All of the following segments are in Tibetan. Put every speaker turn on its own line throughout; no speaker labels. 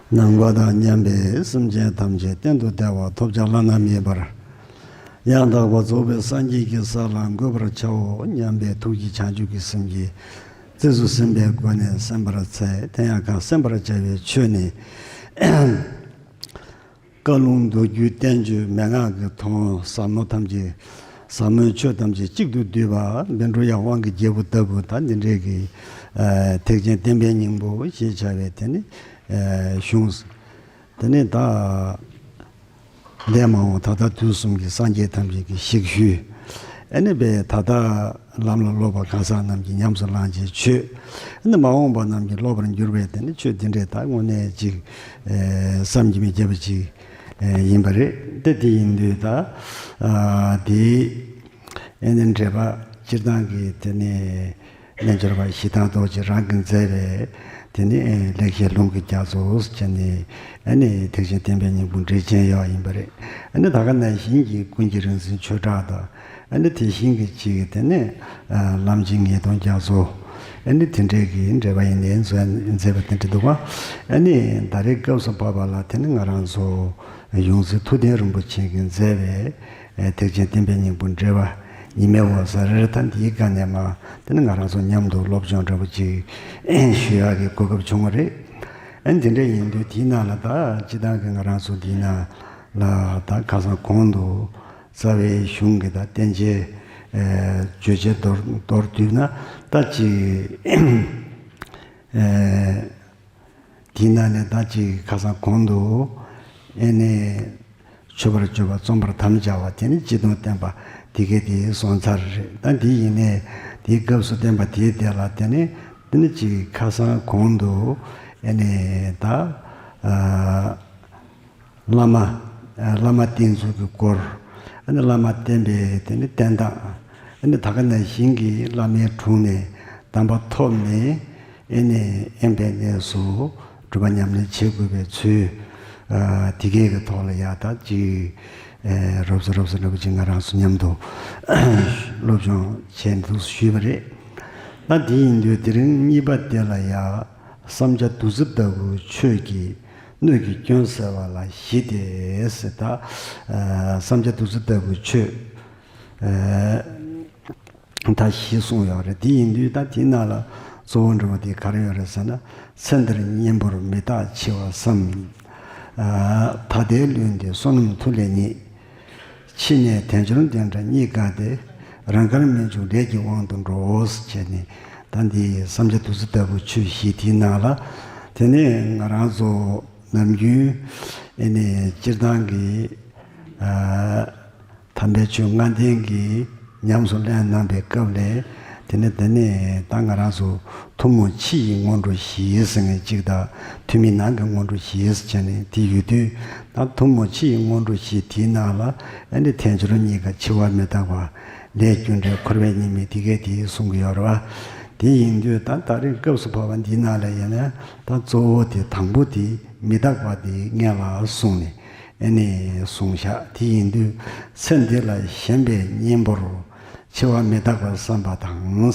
སྣང་བ་དང་མཉམ་པའི་སེམས་ཅན་ཐམས་ཅད་གཏན་དུ་བདེ་བ་ཐོབ་བྱ་བླ་ན་མེད་པར་ཡང་དག་པར་རྫོགས་པའི་སངས་རྒྱས་ཀྱི་ས་ལ་འགོད་པར་བྱའོ་སྙམ་པའི་ཐུགས་ཀྱིས་བྱང་ཆུབ་ཀྱི་སེམས་ཀྱིས་རྩིས་སུ་ཟིན་པའི་སྒོ་ནས་གསན་པར་འཚལ་དེ་ཡང་གང་གསན་པར་བྱ་བའི་ཆོས་ནི། བཀའ་ལུང་མདོ་རྒྱུད་བསྟན་བཅོས་མན་ངག་གི་མཐོང་ཟབ་མོ་ཐམས་ཅད་ཟབ་མོའི་ཆོས་ཐམས་ཅད་གཅིག་ཏུ་འདུས་པ་བདེ་འགྲོ་ཡང་དབང་གི་རྒྱལ་པོ་ལྟ་བུ་དང་འདི་འབྲེལ་གྱི། ཐེག་ཆེན་བསྟན་པའི་སྙིང་པོ་ཞེས་བྱ་བའི་དེ་ནི་གཞུང། དེ་ནས་དག། ལས་མང་བོ་ད་ལྟ་དུས་གསུམ་གྱི་སངས་རྒྱས་ཐམས་ཅད་ཀྱི་གཤེགས་ཤུལ། ཨེ་ནི་པའི་ད་ལྟ། ལམ་ལ་སློབ་པ་གང་ཟག་རྣམས་ཀྱིས་ཉམས་སུ་བླངས་ཀྱི་ཆོས་ནི་མ་འོངས་པ་རྣམས་ཀྱི་སློབ་པར་འགྱུར་བས་དེ་ནི་ཆོས་འདི་འདྲའི་དག་སྔོན་གནས་གཅིག་བསམ་གྱིས་མི་ཁྱབ་པ་ཅིག་ཡིན་པ་རེད་དེ་དེ་ཡིན་དུས་ད་ལྟའི་ཨེ་ནི་འགྲེལ་པ་སྤྱིར་བཏང་གི་དེ་ནི་རྣལ་འབྱོར་པ་བཞི་དང་རྡོ་རྗེ་རང་གིས་མཛད་པའི་དེ་ནི་ལེགས་བཤད་ལུང་གི་རྒྱ་མཚོ་ཅན་ནི་ཨེ་ནི་ཐེག་ཆེན་བསྟན་པའི་སྙིང་པོ་འགྲེལ་ཆེན་ཡོད་ཡིན་པ་རེད་ཨེ་ནི་ད་ག་ནས་བཞིན་གྱི་ཀུན་གྱི་རིག་འཛིན་ཆོས་གྲགས་དང། ཨ་ནི་དེ་བཞིན་གྱི་གཅིག་དེ་ནས་ལམ་གྱི་ངེས་དོན་རྒྱ་མཚོ། ཨ་ནི་དེ་འདྲས་ཀྱི་འདྲེས་པ་ཡིན་ནས་མཛེས་པ་དེ་འདྲས་འདུག་ཨ་ནི་ཟླ་རེའི་སྐབས་སུ་བབས་པ་ལ་དེ་ནི་ང་རང་ཚོ་ཡོངས་འཛིན་ཐུབ་བསྟན་རིན་པོ་ཆེ་གྱིས་མཛད་པའི་ཐེག་ཆེན་བསྟན་པའི་སྙིང་པོ་འདྲེས་པ་ཉི་མའི་འོད་ཟེར་རེ་རེ་ད་འདིའི་སྒ་ནས་མ་དེ་ནི་ང་རང་ཚོ་མཉམ་དུ་སློབ་སྦྱོང་འདྲ་པོ་ཅིག་ཞུ་ཡག་གི་གོ་སྐབས་བྱུང་བ་རེད། ཨ་ནི་དེ་འདྲས་ཡིན་དུས་དེའི་ནང་ལ་ད་སྤྱི་བཏང་གི་ང་རང་ཚོ་འདིའི་ནང་ལ་ད་ཁ་སང་གོང་དུ་རྩ་བའི་གཞུང་གི་དང་བསྟན་བྱའི་བརྗོད་བྱའི་མདོར་བསྡུས་ན་ལྟ་ཅིག། དེས་ན་ནི་ལྟ་ཅིག་ཁ་སང་གོང་དུ། ཨེ་ནས། མཆོད་པར་སྤྱོད་པ་རྩོམ་པར་དམ་བཅའ་བ་དེ་ནི་སྤྱི་དོན་བསྟན་པ་དེ་སྐད་དེ་སོང་ཚར་རེད་ད་འདི་ཡིན་ནས་དེའི་སྐབས་སུ་བསྟན་པ་དེའི་དེ་ལ་དེ་ནི་ལྟ་ཅིག་ཁ་སང་གོང་དུ། ཨེ་ནས་ད། བླ་མ། བླ་མ་བསྟེན་གཟུགས་ཀྱི་སྐོར། ཨ་ནི་བླ་མ་བསྟེན་པའི་དེ་ནི་བསྟེན་སྟངས། ཨ་ནི་ད་ག་ན་ཞིང་གི་བླ་མའི་དྲུང་ནས་གདམས་པ་ཐོབ་ནས། ཨེ་ནས་ཨེན་པའི་གནས་སུ་སྒྲུབ་པ་ཉམས་ལེན་བྱེད་དགོས་པའི་ཚུལ། དེ་སྐད་ཀྱི་ཐོག་ལ་ཡག་དག་ཅིག། རབ་གསལ་རབ་གསལ་རིན་པོ་ཆེ་ང་རང་སུ་མཉམ་དུ་སློབ་སྦྱོང་བྱས་འདུག་སུ་ཞུས་པ་རེད། ད་དེ་ཡིན་དུས་དེ་རིང་གཉིས་པ་དེ་ལ་ཡག་བསམ་བྱ་འདུག་ཚིག་ལྟ་བུ་ཆོས་ཀྱི། སྣོད་ཀྱི་སྐྱོན་བསལ་བ་ལ་བཞི་སྟེ། བསམ་བྱ་དུག་རྩི་ལྟ་བུའི་ཆོས། མཐའ་བཞི་གསུངས་ཡོད་རེད། དེ་ཡིན་དུས་ད་དེ་ན་ལ་གཙོ་བོ་འབྲི་བ་དེ་གར་ཡོད་རེད་ཟེར་ན། ཚེ་འདིར་གཉེན་པོར་མི་རྟག་འཆི་བ་བསམ། ད་ལྟའི་ལུས་འདི་བསོད་ནམས་མཐུ་ལས་རྙེད། ཕྱི་ནས་དལ་འབྱོར་འདི་འདྲ་རྙེད་དཀའ་སྟེ། རང་དགར་མི་འཇུག་ལས་ཀྱི་དབང་དུ་འགྲོའོ་བྱས་ནས། ད་འདི་བསམ་བྱ་དུག་རྩི་ལྟ་བུ་ཆུ་བཞིས་དེའི་ནང་ལ། དེ་ནས་ང་རང་ཚོ་ནམ་རྒྱུན་ཨེ་ནས་སྤྱིར་བཏང་གི། དམ་པའི་ཆོས་ལྔ་ལྡན་གྱི། ཉམས་སུ་ལེན་གནང་པའི་སྐབས་ལས། དེ་ནས་དེ་ནས་ད་ང་རང་སུ། ཐུགས་མོ་ཕྱི་ཡི་སྔོན་འགྲོ་བཞི་ཡིས་ངེས་གཅིག་བདག། ཐུགས་མི་ནང་གི་སྔོན་འགྲོ་བཞི་ཡིས་བྱས་ནས་དེ་ཡོད་དུས། ད་ཐུགས་མོ་ཕྱི་ཡི་སྔོན་འགྲོ་བཞི་དེའི་ནང་ལ། ཨེ་འདི་ཐལ་འགྱུར་གཉིས་ཀ་འཆི་བ་མི་རྟག་པ། ལས་རྒྱུ་འབྲས་འཁོར་བའི་གཉིས་མེད་དེ་སྐད་དེ་གསུང་གི་ཡོད་རེད་པ། དེ་ཡིན་དུས་ད་ད་རེས་སྐབས་སུ་བབས་པ་འདིའི་ནང་ལས་ཡིན་ན། ད་གཙོ་བོ་དེ་དང་པོ་དེ་མི་རྟག་པ་དེ་ངེས་ལ་གསུངས་ནས། ནས་བཟུང་བཞག་དེ་ཡིན་དུས་ཚེ་འདི་ལ་ཞེན་པའི་གཉེན་པོར་འཆི་བ་མི་རྟག་པར་བསམ་པ་དང།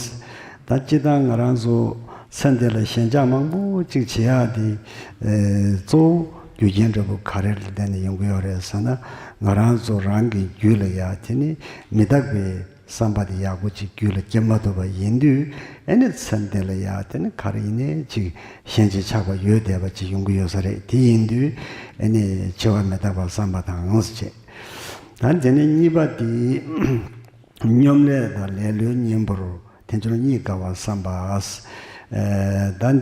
ད་སྤྱི་དང་ང་རང་ཚོ་ཚེ་འདི་ལ་ཞེན་ཆགས་མང་པོ་གཅིག་བྱེད་ཡག་དེ། གཙོ་བོ་རྒྱུ་རྐྱེན་འབྲས་བུ་ག་རེ་ལ་བརྟེན་ནས་ཡོང་གི་ཡོད་རེད་ཟེར་ན། ང་རང་ཚོ་རང་གི་རྒྱུད་ལ་ཡག་དེ་ནི་མི་རྟག་པའི། བསམ་པ་དེ་ཡག་པོ་ཅིག་རྒྱུད་ལ་སྐྱེ་མ་ཐུབ་པ་ཡིན་དུས་ཨེ་ནི་མཚན་དེ་ལ་ཡ་དེ་ནི་ག་རེ་ཡིན་ནའི་ཅིག་ཤེས་བྱེད་ཆགས་པ་ཡོད་བསྡད་པ་ཅིག་ཡོང་གི་ཡོད་ས་རེད་དེ་ཡིན་དུས་ཨེ་ནི་འཆི་བ་མེ་ད་པར་བསམ་པ་དང་ཨང་ཅེས་ད་དེ་ནས་གཉིས་པ་དེ་སྙོམ་ལས་དང་ལེ་ལོའི་གཉེན་པོར་དེ་ཅུང་གཉིད་དགའ་བར་བསམ་པ། ད།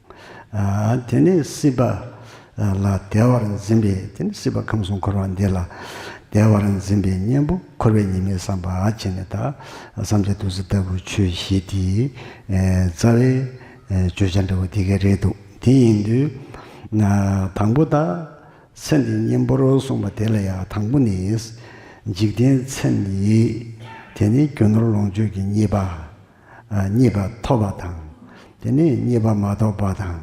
དེ་ནས་སྲིད་པ་ལ་བདེ་བར་འཛིན་པའི་དེ་ནས་སྲིད་པ་ཁམས་གསུམ་འཁོར་བ་འདི་ལ་བདེ་བར་འཛིན་པའི་གཉེན་པོ་འཁོར་བའི་ཉི་མའི་བསམ་པ་བྱས་ནས་དག་བསམ་གྱི་བདུད་རྩི་ལྟ་བུ་ཆོས་བཞི་དེའི་རྩ་བའི་བརྗོད་བྱ་འདྲ་བོ་དེ་ག་རེད་འདུག་དེ་ཡིན་དུས། དང་པོ་དག་ཚད་འདི་གཉེན་པོར་གསུངས་པ་དེ་ལ་ཡང་དང་པོ་ནི། འཇིག་རྟེན་ཚད་ནི། དེ་ནས་རྒྱུ་ནོར་ལོངས་སྤྱོད་ཀྱི་གཉིས་པ། གཉིས་པ་ཐོབ་པ་དང། དེ་ནས་གཉིས་པ་མ་ཐོབ་པ་དང།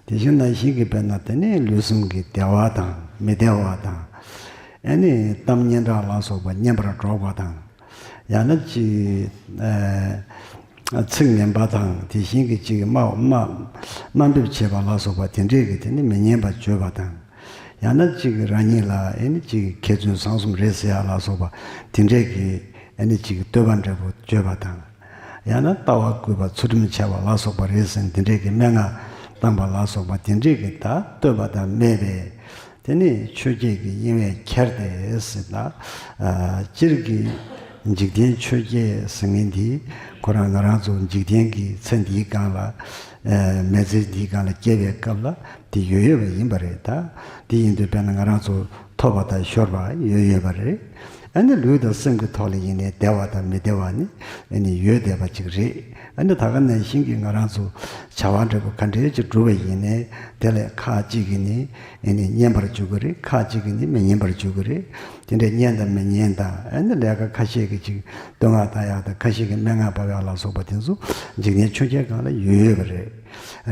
དེ་བཞིན་ན་བཞིན་གྱི་དཔེར་ན་དེ་ནས་ལུས་གསུམ་གྱི་བདེ་བ་དང་མི་བདེ་བ་དང། ཡང་ནི་གཏམ་སྙན་གྲགས་ལ་སོགས་པ་སྙན་པར་སྒྲོགས་པ་དང། ཡང་ན་གཅིག་ཚིག་ངན་པ་དང་དེ་བཞིན་གྱི་གཅིག་སྨྲ་འབེབས་བྱེད་པ་ལ་སོགས་པ་དེ་འདྲས་ཀྱི་དེ་ནི་མི་སྙན་པ་བརྗོད་པ་དང། ཡང་ན་གཅིག་གིས་རང་ཉིད་ལ་ཨེ་ནི་གཅིག་གིས་མཁས་བཙུན་བཟང་གསུམ་རེད་ཟེར་ཡ་ལ་སོགས་པ་དེ་འདྲས་ཀྱིས་ཨེ་ནི་གཅིག་གིས་བསྟོད་པ་འདྲ་པོ་བརྗོད་པ་དང། ཡང་ན་ལྟ་བ་རྐུས་པ་ཚུལ་ཁྲིམས་འཆལ་བ་ལ་སོགས་པ་རེད་ཟེར་དེ་འདྲས་ཀྱིས་སྨྲེ་སྔགས་བཏང་པ་ལ་སོགས་པ་དེ་འདྲས་ཀྱིས་ད་བསྟོད་པ་དང་སྨྲས་པས། དེ་ནི་ཆོས་བརྒྱད་ཀྱི་གཡེང་བས་ཁྱེར་ཏེ་སྲིད་ལ། སྤྱིར་གྱི། འཇིག་རྟེན་ཆོས་བརྒྱད་ཟེར་ངེས་འདི། ཁོ་རང་ང་རང་ཚོ་འཇིག་རྟེན་གྱི་ཚེ་འདིའི་སྒང་ལ། མེལ་ཚེ་འདིའི་སྒང་ལ་སྐྱེ་བའི་སྐབས་ལ་དེ་ཡོད་ཡོད་པ་ཡིན་པ་རེད་ད། དེ་ཡིན་དུས་དཔེར་ན་ང་རང་ཚོ་ཐོབ་པ་དང་ཤོར་བ་ཡོད་ཡོད་པ་རེད། ཨ་ནི་ལུས་དང་སེམས་ཀྱི་ཐོག་ལ་ཡིན་ནའི་བདེ་བ་དང་མི་བདེ་བ་ནི་ཨ་ནི་ཡོད་བསྡད་པ་ཅིག་རེད། ཨ་ནི་ད་ག་ནས་ཤིང་གིས་ང་རང་ཚོ་བྱ་བ་འབྲས་བུ་ག་འདྲའི་ཅིག་སྒྲུབ་པ་ཡིན་ནའི་དེ་ལས་ཁ་ཅིག་གིས་ནི་འདི་ནི་མཉན་པར་འཇུག་གི་རེད་ཁ་ཅིག་གིས་ནི་མི་མཉན་པར་འཇུག་གི་རེད། དེ་འདྲའི་མཉན་དང་མི་མཉན་དང་ནི་ལས་ཀ་ཁ་ཤས་ཀྱིས་ཅིག་བསྟོད་བསྔགས་བཏང་ཡག་དང་ཁ་ཤས་ཀྱིས་སྨྲེ་སྔགས་བབས་ཡག་ལ་སོགས་པ་དེ་ཚོ་འཇིག་རྟེན་ཆོས་རྒྱལ་གང་ལ་ཡོད་ཡོད་པ་རེད།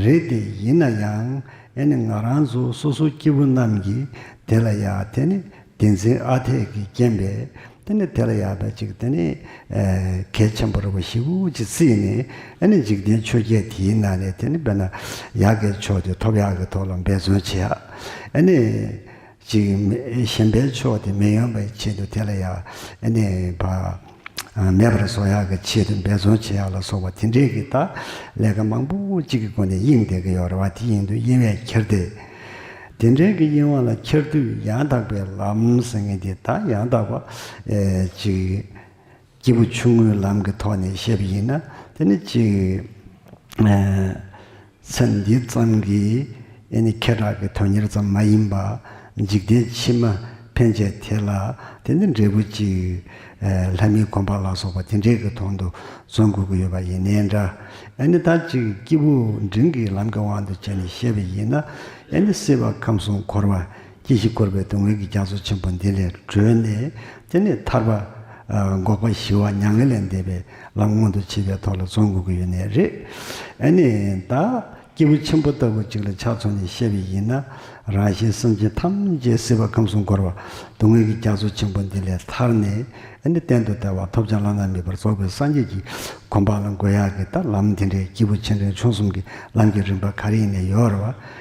རེད་དེ་ཡིན་ན་ཡང། ནི་ང་རང་ཚོ་སོ་སོའི་སྐྱེ་བོ་རྣམས་ཀྱིས་དེ་ལ་ཡ་དེ་ནི། བདེན་འཛིན་ཨ་འཐས་ཀྱིས་བརྒྱན་པའི་ཨ་ནི་དེ་ལ་ཡག་པ་ཅིག་ཨ་ནི། གལ་ཆེན་པོ་རེད་པ་ཞིག་ཨུ་ཅི་རྩིས་ནས་ཨ་ནི་འཇིག་རྟེན་ཆོས་བརྒྱད་དེའི་ནང་ནས་དེ་ནི་འབད་ན་ཡག་གི་ཕྱོགས་དེ་ཐོབ་ཡག་གི་ཐོག་ལ་འབད་བརྩོན་བྱེད་ཡག་ཨ་ནི། གཅིག་གཞན་པའི་ཕྱོགས་དེ་མི་གཡོན་པའི་ཆེད་དུ་དེ་ལ་ཡག་ཨ་ནི། མེད་པར་བཟོ་ཡག་གི་ཆེད་དུ་འབད་བརྩོན་བྱེད་ཡག་ལ་སོགས་པ་དེ་འདྲས་ཀྱི་དག་ལས་ཀ་མང་པོ་གཅིག་གི་སྒོ་ནས་གཡེང་བསྡད་ཀྱི་ཡོད་རེད་བ་དེ་གཡེང་དུས་གཡེང་བས་འཁྱེར་ཏེ། དེ་འདྲས་ཀྱི་གཡེང་བ་ལ་འཁྱེར་དུས་ཡང་དག་པའི་ལམ་ཟེར་མཁན་དེ་དག་ཡང་དག་པ་གཅིག་སྐྱིད་པོ་ཆུང་ངུའི་ལམ་གྱི་ཐོག་ནས་བཤད་པ་ཡིན་ན་དེ་ནི་གཅིག། ཚེ་འདི་ཙམ་གྱི་ཨེ་ནི་ཁེ་གྲགས་ཀྱི་དོན་གཉེར་ཙམ་མ་ཡིན་པ། འཇིག་རྟེན་ཕྱི་མ་ཕན་ཆད་དེ་ལ་དེ་འདི་འབྲས་བུ་ཅིག། ལྷ་མིའི་གོམ་པ་ལ་སོགས་པ་དེ་འདྲའི་གི་དོན་དུ་བརྩོན་དགོས་ཀྱི་ཡོད་པ་ཡིན་ནའི་འདྲ། ཨེ་ནི་ད་ཅིག་སྐྱེས་བུ་འབྲིང་གི་ལམ་གྱི་དབང་དུ་བྱས་ནས་བཤད་པ་ཡིན་ན། ཨེ་ནི་སྲིད་པ་ཁམས་གསུམ་འཁོར་བ། སྐྱེ་ཤི་འཁོར་བའི་སྡུག་བསྔལ་གྱི་རྒྱ་མཚོ་ཆེན་པོ་འདི་ལས་གྲོལ་ནས་དེ་ནས་ཐར་པ། འགོག་པ་ཞི་བ་མྱ་ངན་ལས་འདས་པའི་ལམ་མངོན་དུ་བྱེད་པའི་ཐོག་ལ་རྫོགས་འགོད་ཀྱི་ཡོད་ནི་རེད། ཨ་ནི་ད། སྐྱེས་བུ་ཆེན་པོ་ལྟ་བུ་ཅིག་ལ་ཆ་མཚོན་ནས་བཤད་པའི་ཡིན་ན། རང་གཞན་སེམས་ཅན་ཐམས་ཅད་སྲིད་པ་ཁམས་གསུམ་འཁོར་བ་སྡུག་བསྔལ་གྱི་རྒྱ་མཚོ་ཆེན་པོ་འདི་ལས་ཐར་ནས་ཨ་ནི་གཏན་དུ་བདེ་བ་ཐོབ་བྱ་བླ་ན་མེད་པར་རྫོགས་པའི་སངས་རྒྱས་ཀྱི་གོ་འཕང་ལ་འགོད་ཡག་གི་ད་ལམ་དེ་འདྲའི་སྐྱེས་བུ་ཆེན་རིན་འབྱུང་གསུམ་གྱི་ལམ་གྱི་རིམ་པ་ག་རེ་ཡིན་ནས་ཡོད་རེད་བ།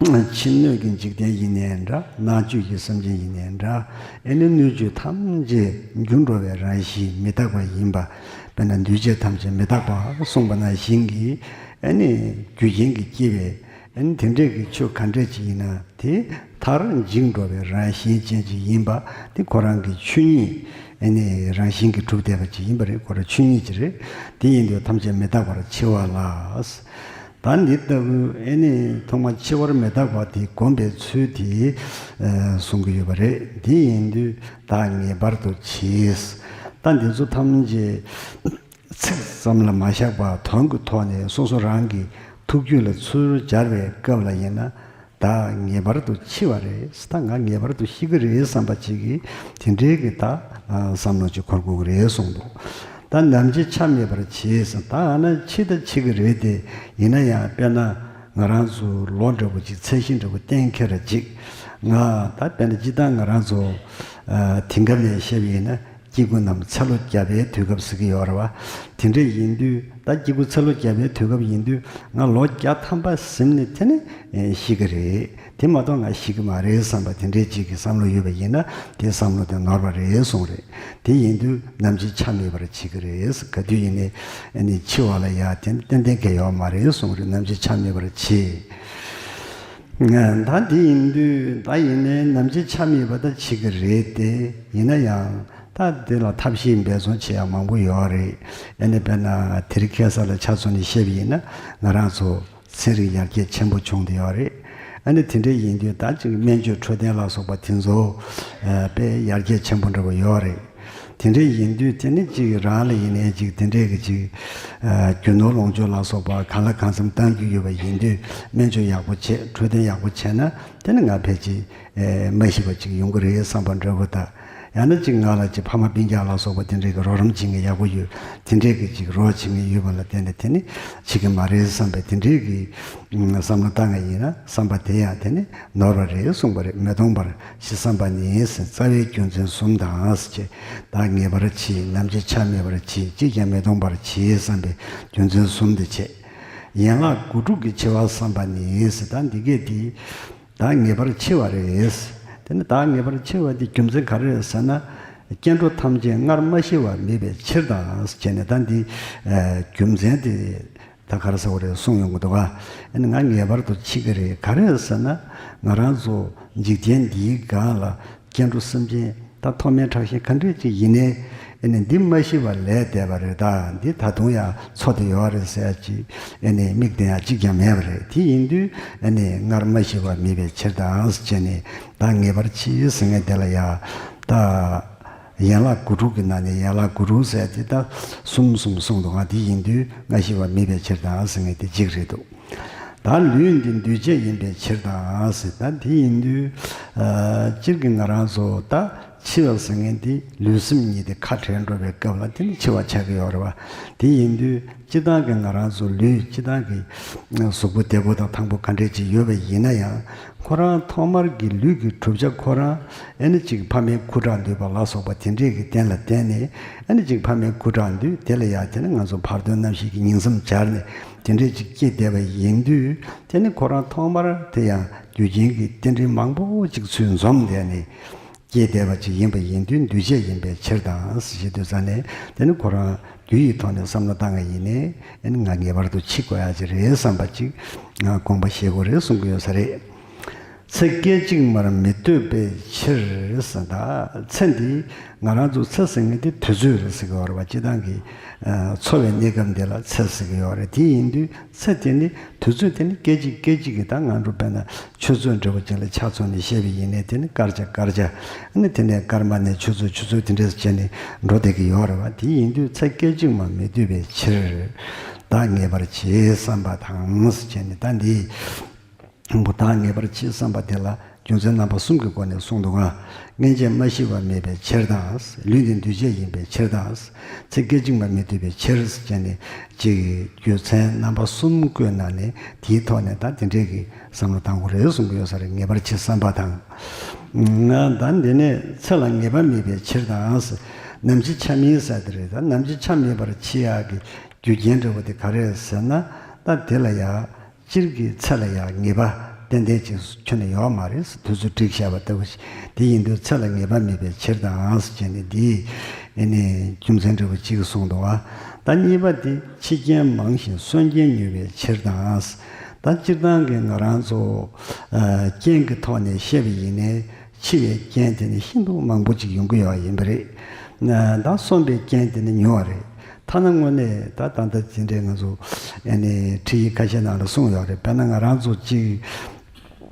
ཕྱི་སྣོད་ཀྱི་འཇིག་རྟེན་ཡེ་ནས་འདྲ། ནང་བཅུད་ཀྱི་སེམས་ཅན་ཡེ་ནས་འདྲ། ཨེ་ནི་སྣོད་བཅུད་ཐམས་ཅད་འགྱུར་འགྲོ་བའི་རང་བཞིན་མི་རྟག་པ་ཡིན་པ། དཔེར་ན་འདུས་བྱས་ཐམས་ཅད་མི་རྟག་པར་གསུངས་པ་ན་བཞིན་གྱི། ཨེ་ནི་རྒྱུ་རྐྱེན་གྱིས་བསྐྱེད་པའི། ཨེ་ནི་དེ་འབྲས་ཀྱི་ཆོས་ག་འདྲས་ཅིག་ཡིན་ན་དེ་ལྟར་འཇིག་འགྲོ་བའི་རང་བཞིན་ཅན་ཅིག་ཡིན་པ་འདི་ཁོ་རང་གི་ཆོས་ཉིད། ཨེ་ནི་རང་བཞིན་གྱིས་གྲུབ་བསྡད་པ་ཅིག་ཡིན་པ་རེད་ཁོ་རང་ཆོས་ཉིད་ཅིག་རེད། དེ་ཡིན་དུས་ཐམས་ཅད་མི་རྟག་པར་འཆི་བ་ལ། ད་འདི་ལྟ་བུ་ཨེ་ནི་ཐོག་མ་འཆི་བར་མི་རྟག་པ་དེ་བསྒོམ་པའི་ཚུལ་དེ་གསུང་གི་ཡོད་པ་རེད་དེ་ཡིན་དུས་བདག་ངེས་པར་དུ་བྱེད། ད་འདི་ཚོ་ཐམས་ཅད་ཚིག་ཙམ་ལ་མ་བཞག་པར་དོན་གྱི་ཐོག་ནས་སོ་སོ་རང་གི་ཐུགས་རྒྱུད་ལ་ཚུར་སྦྱར་བའི་སྐབས་ལ་ཡིན་ན་བདག་ངེས་པར་དུ་འཆི་བ་རེད་ད་ང་ངེས་པར་དུ་ཤི་གི་རེད་བསམ་པ་ཅིག་གིས་དེ་འབྲེལ་གྱི་ད་བསམ་བློ་ཅིག་འཁོར་ཁུག་རེད་སོང་འདུག་ད་ནམ་འཆི་ཆ་མེད་པར་བྱས་ད་ང་འཆི་ད་འཆི་གི་རེད་དེ་ཡིན་ན་ཡང་དཔེར་ན་ང་རང་ཚོ་ལོ་འདྲ་བོ་ཅིག་ཚད་ཤིང་འདྲ་བོ་གཏན་འཁེལ་ར་ཅིག་ང་ད་དཔེར་ན་སྤྱི་བཏང་ང་རང་ཚོ་དེང་ག་ནས་བཤད་པ་ཡིན་ན་སྐྱེ་རྒུ་རྣམས་ཚེ་ལོ་བརྒྱ་པའི་དུས་སྐབས་ཟེར་གྱི་ཡོད་རེད་བ། དེ་འདྲ་ཡིན་དུས་ད་སྐྱེ་རྒུ་ཚེ་ལོ་བརྒྱ་པའི་དུས་སྐབས་ཡིན་དུས་ང་ལོ་བརྒྱ་ཐམ་པ་ཟིམ་ནས་དེ་ནི་ཤི་གི་རེད། དེ་མ་གཏོགས་ང་ཤི་གི་མ་རེད་བསམ་པ་དེ་འདྲའི་གཅིག་གི་བསམ་བློ་ཡོད་པ་ཡིན་ན་དེའི་བསམ་བློ་དེ་ནོར་བ་རེད་སོང་རེད། དེ་ཡིན་དུས་ནམ་འཆི་ཆ་མེད་པར་འཆི་གི་རེད་ག་དུས་ཡིན་ནའི་འཆི་བ་ལ་ཡ་དེ་ནི་ཏན་ཏན་གལ་ཡོད་མ་རེད་སོང་རེད་ནམ་འཆི་ཆ་མེད་པར་འཆི། ད་འདི་ཡིན་དུས་ད་ཡིན་ནའི་ནམ་འཆི་ཆ་མེད་པ་ད་འཆི་གི་རེད་དེ་ཡིན་ན་ཡང་ད་འདི་ལ་ཐབས་ཤེས་འབད་བརྩོན་བྱེད་ཡག་མང་པོ་ཡོད་རེད་ཨེ་ནི་དཔེར་ན་དེར་གེ་སར་ལ་ཆ་ཚུར་ནས་བཤད་པ་ཡིན་ན་ང་རང་ཚོ་ཚན་རིག་ཡར་རྒྱས་ཆེན་པོ་བྱུང་འདི་ཡོད་རེད་ཨ་ནི་དེ་འདྲའི་ཡིན་དུས་ད་ཅིག་སྨན་བཅོས་འཕྲོད་བསྟེན་ལ་སོགས་པ་དེ་ཚོ་དཔེ་ཡར་རྒྱས་ཆེན་པོ་འདྲ་བོ་ཡོད་རེད། དེ་འདྲའི་ཡིན་དུས་དེ་ནི་གཅིག་རང་ལ་ཡིན་ནའི་གཅིག་དེ་འདྲའི་གི་གཅིག། རྒྱུ་ནོར་ལོངས་སྤྱོད་ལ་སོགས་པ་གང་ལ་གང་འཚམ་བཏང་རྒྱུ་ཡོད་པ་ཡིན་དུས་སྨན་བཅོས་ཡག་པོ་བྱེད་འཕྲོད་བསྟེན་ཡག་པོ་བྱས་ན་དེ་ནི་ང་ཕལ་ཆེར་མ་ཤི་བ་ཅིག་ཡོང་གི་རེད་བསམ་པ་འདྲ་བོ་ད། ཡང་ན་གཅིག་ང་ལ་གཅིག་ཕ་མ་སྤིན་རྒྱག་ལ་སོགས་པ་དེ་འདྲའི་གི་རོགས་རམ་བྱེད་ངེས་ཡག་པོ་ཡོད་དེ་འདྲའི་གི་གཅིག་རོགས་བྱེད་ངེས་ཡོད་པ་ལ་བརྟེན་ནས་དེ་ནི་བྱེད་གི་མ་རེད་བསམ་པའི་དེ་འདྲའི་གི་བསམ་བློ་བཏང་ངེས་ཡིན་ན་བསམ་པ་དེ་ཡང་དེ་ནི་ནོར་བ་རེད་གསུངས་པ་རེད་མི་གཏོང་པར། ཞེས་བསམ་པ་ནི་རྩ་བའི་རྒྱུ་མཚན་གསུམ་དང་བཅས་བདག་ངེས་པར་གྱིས་ནམ་འཆི་ཆ་མེད་པར་གྱིས་གཅིག་ཀྱང་མི་གཏོང་པར་གྱིས་བསམ་པའི་རྒྱུ་མཚན་གསུམ་དུ་བྱས། ཡན་ལག་དགུ་དྲུག་གི་འཆི་བ་བསམ་པ་ནི་བདག་འདི་སྐད་དེ། བདག་ངེས་པར་འཆི་བ་རེད། དེ་ནི་བདག་ངེས་པར་འཆི་བ་དེ་རྒྱུ་མཚན་ག་རེ་ཟེར་ན། སྐྱེ་འགྲོ་ཐམས་ཅད་སྔར་མ་ཤི་བ་མེད་པའི་ཕྱིར་དང་བཅས་ནས་བདག་འདི། རྒྱུ་མཚན་དེ། ད་ག་རེ་ཟེར་བ་རེད་གསུངས་ཡོང་གི་འདུག་ཨ། ང་ངེས་པར་དུ་འཆི་གི་རེད་ག་རེ་ཟེར་ན། ང་རང་ཚོ་འཇིག་རྟེན་འདིའི་སྒང་ལ་སྐྱེ་འགྲོ་སེམས་ཅན་དང་ཐོག་མའི་ཁྲག་ཤེད་ག་འདྲས་ཅིག་ཡིན་ནའི། ཨེ་ནས་འདི་མ་ཤི་བ་ལས་འདས་པ་རེད་ད་འདི་ད་དུང་ཡང་འཚོ་དེ་ཡོད་རེད་ཟེར་ཡ་ཅིག་ཨེ་ནས་མིག་དེ་ཡང་གཅིག་ཀྱང་མེད་པ་རེད་དེ་ཡིན་དུས་ཨེ་ནས་སྔར་མ་ཤི་བ་མིན་པའི་ཕྱིར་དང་བཅས་ནས་ད་ངེས་པར་འཆི་ཟེར་ངེས་དེ་ལ་ཡ་ད། ཡན་ལག་དགུ་དྲུག་གི་ནང་ནས་ཡན་ལག་དགུ་དྲུག་ཟེར་དེ་ད་གསུམ་གསུམ་གསུངས་འདུག་ང་འདི་ཡིན་དུས་ང་ཤི་བ་མིན་པའི་ཕྱིར་དང་ཟེར་ངེས་དེ་འཇིག་རེད་འདུག་ད་ལུས་འདི་འདུས་བྱས་ཡིན་པའི་ཕྱིར་དང་ཟེར་ད་དེ་ཡིན་དུས་སྤྱིར་གི་ང་རང་ཚོ་ད་འཆི་བ་ཟེར་ངེས་དེ་ལུས་སེམས་གཉིས་དེ་ཁ་བྲལ་འགྲོ་བའི་སྐབས་ལ་དེ་ནི་འཆི་བ་ཆགས་ཀྱི་ཡོད་རེད་བ་དེ་ཡིན་དུས་སྤྱི་བཏང་གི་ང་རང་ཚོ་ལུས་སྤྱི་བཏང་གི་གཟུགས་པོ་བདེ་པོ་དང་ཐང་པོ་ག་འདྲས་ཅིག་ཡོད་པ་ཡིན་ན་ཡང། ཁོ་རང་ཐོག་མར་གྱི་ལུས་ཀྱི་གྲུབ་ཆ་ཁོ་རང་ཨེ་ན་ཅིག་ཕ་མའི་ཁུ་ཁྲག་འདུས་པ་ལ་སོགས་པ་དེ་འདྲས་ཀྱི་རྟེན་ལ་བརྟེན་ནས་ཨེ་ན་ཅིག་ཕ་མའི་ཁུ་ཁྲག་འདུས་དེ་ལ་ཡང་དེ་ནི་ང་ཚོ་བར་དོའི་རྣམ་ཤེས་ཀྱི་ཉིང་མཚམས་སྦྱར་ནས་དེ་འདྲས་ཅིག་སྐྱེས་བསྡད་པ་ཡིན་དུས་དེ་ནི་ཁོ་རང་ཐོག་མར་དེ་ཡང་རྒྱུ་རྐྱེན་གྱི་རྟེན་འབྲེལ་མང་པོ་ཅིག་ཚུལ་འཛོམས་བསྡད་ནས། སྐྱེས་བསྡད་པ་ཅིག་ཡིན་པ་ཡིན་དུས་འདུས་བྱས་ཡིན་པའི་ཕྱིར་དང་ཞེས་བསྡུས་ཙང་ནས་དེ་ནི་ཁོ་རང་རྒྱུ་ཡི་ཐོག་ནས་བསམ་བློ་བཏང་ངེས་ཡིན་ནས་ཨེ་ནི་ང་ངེས་པར་དུ་འཆི་དགོས་ཡ་ཅི་རེད་བསམ་པ་ཅིག་དགོངས་པ་བཞེས་དགོས་རེད་གསུང་གི་ཡོད་ས་རེད། ཚེ་སྐད་གཅིག་མར་མི་སྡོད་པའི་ཕྱིར། ཚེ་འདི་ང་རང་ཚོ་ཚེ་ཟེར་ངེས་དེ་དུས་ཚོད་རེད་ཟེར་གི་ཡོད་རེད་བ་སྤྱི་བཏང་གི། འཚོ་བའི་གནས་སྐབས་འདི་ལ་ཚེ་ཟེར་གི་ཡོད་རེད་དེ་ཡིན་དུས་ཚེ་འདི་ནི་དུས་ཚོད་འདི་ནི་སྐད་ཅིག་སྐད་ཅིག་གིས་ད་ང་འགྲོ་པས་ན་ཆུ་ཚོད་འདྲ་བོ་ཅིག་ལ་ཆ་ཚང་ནས་བཤད་པའི་ཡིན་ནས་དེ་ནི་སྐར་ཆ་སྐར་ཆ་ནི་དེ་ནས་སྐར་མ་ནས་ཆུ་ཚོད་ཆུ་ཚོད་དེ་འདྲས་བྱས་ནས་འགྲོ་བསྡད་ཀྱི་ཡོད་རེད་བ་དེ་ཡིན་དུས་ཚེ་སྐད་ཅིག་མ་མི་སྡུད་པའི་ཕྱིར། བདག་ངེས་པར་བྱེད་བསམ་པ་དང་བྱས་ནས་ད་འདི། མུ་སྟངས་ངེས་པར་འབྱེད་བསམ་པ་དེ་ལ་རྒྱུ་མཚན་རྣམ་པ་གསུམ་གྱི་སྒོ་ནས་གསུངས་འདུག་ལྔ། མངལ་ཆད་མ་ཞི་བ་མེད་པའི་ཕྱིར་དང། ལུས་འདི་འདུས་བྱས་ཡིན་པའི་ཕྱིར་དང། ཚེ་སྐད་ཅིག་མ་མི་འདུས་པའི་ཕྱིར་བཅས་ནི་གཅིག། རྒྱུ་མཚན་རྣམ་པ་གསུམ་བཀོད་ན་ནི་དེའི་ཐོག་ནས་བདག་འདི་འདྲས་ཀྱི་བསམ་བློ་དང་པོ་རེ་གསུངས་ཀྱི་ཡོད་ས་རེད་ངེས་པར་འབྱེད་བསམ་པ་དང། བདག་འདི་ནི་ཚེ་ལ་ངེས་པ་མེད་པའི་ཕྱིར་དང། ནམ་འཆི་ཆ་མིན་ས་དེ་རེད་ད་ནམ་འཆི་ཆ་མེད་པར་འཆི་ཡག་གི་རྒྱུ་རྐྱེན་འབྲས་བུ་དེ་ག་རེད་ཟེར་ན་ད་དེ་ལ་ཡག་སྤྱིར་གྱི་ཚད་ལ་ཡང་ངེས་པ་ཏན་ཏན་ཅིག་ཁྱོན་ནས་ཡོང་བ་མ་རེད་ཟེར་དུས་ཚོད་སྒྲིག་བཞག་པ་ལྟ་བུ་ཞིག་དེ་ཡིན་དུས་ཚད་ལ་ངེས་པ་མེད་པའི་ཕྱིར་དང་ཨང་ཟེར་བྱས་ནས་འདིས་ནི་ནི་རྒྱུ་མཚན་འབྲས་བུ་གཅིག་གསུངས་འདུག་ད་གཉིས་པ་འདི་ཕྱི་རྐྱེན་མང་ཞིང་གསོན་རྐྱེན་ཉུང་བའི་ཕྱིར་དང་ཨང་ཟེར་ད་སྤྱིར་བཏང་གི་ང་རང་ཚོ་རྐྱེན་གྱི་ཐོག་ནས་བཤད་པ་ཡིན་ནའི་འཆི་བའི་རྐྱེན་དེ་ནི་ཤིན་ཏུ་མང་པོ་ཅིག་ཡོང་གི་ཡོད་པ་ཡིན་པ་རེད། ད་གསོན་པའི་རྐྱེན་དེ་ནི་ཉུང་བ་རེད། ཐ་ན་དངོས་གནས་ད་ད་ལྟ་ཇི་འདྲའི་ང་ཚོ་འཕྲིན་ཡིག་ཁ་ཤས་ནང་ལ་གསུངས་ཡོད་རེད་དཔེར་ན་ང་རང་ཚོ་གཅིག་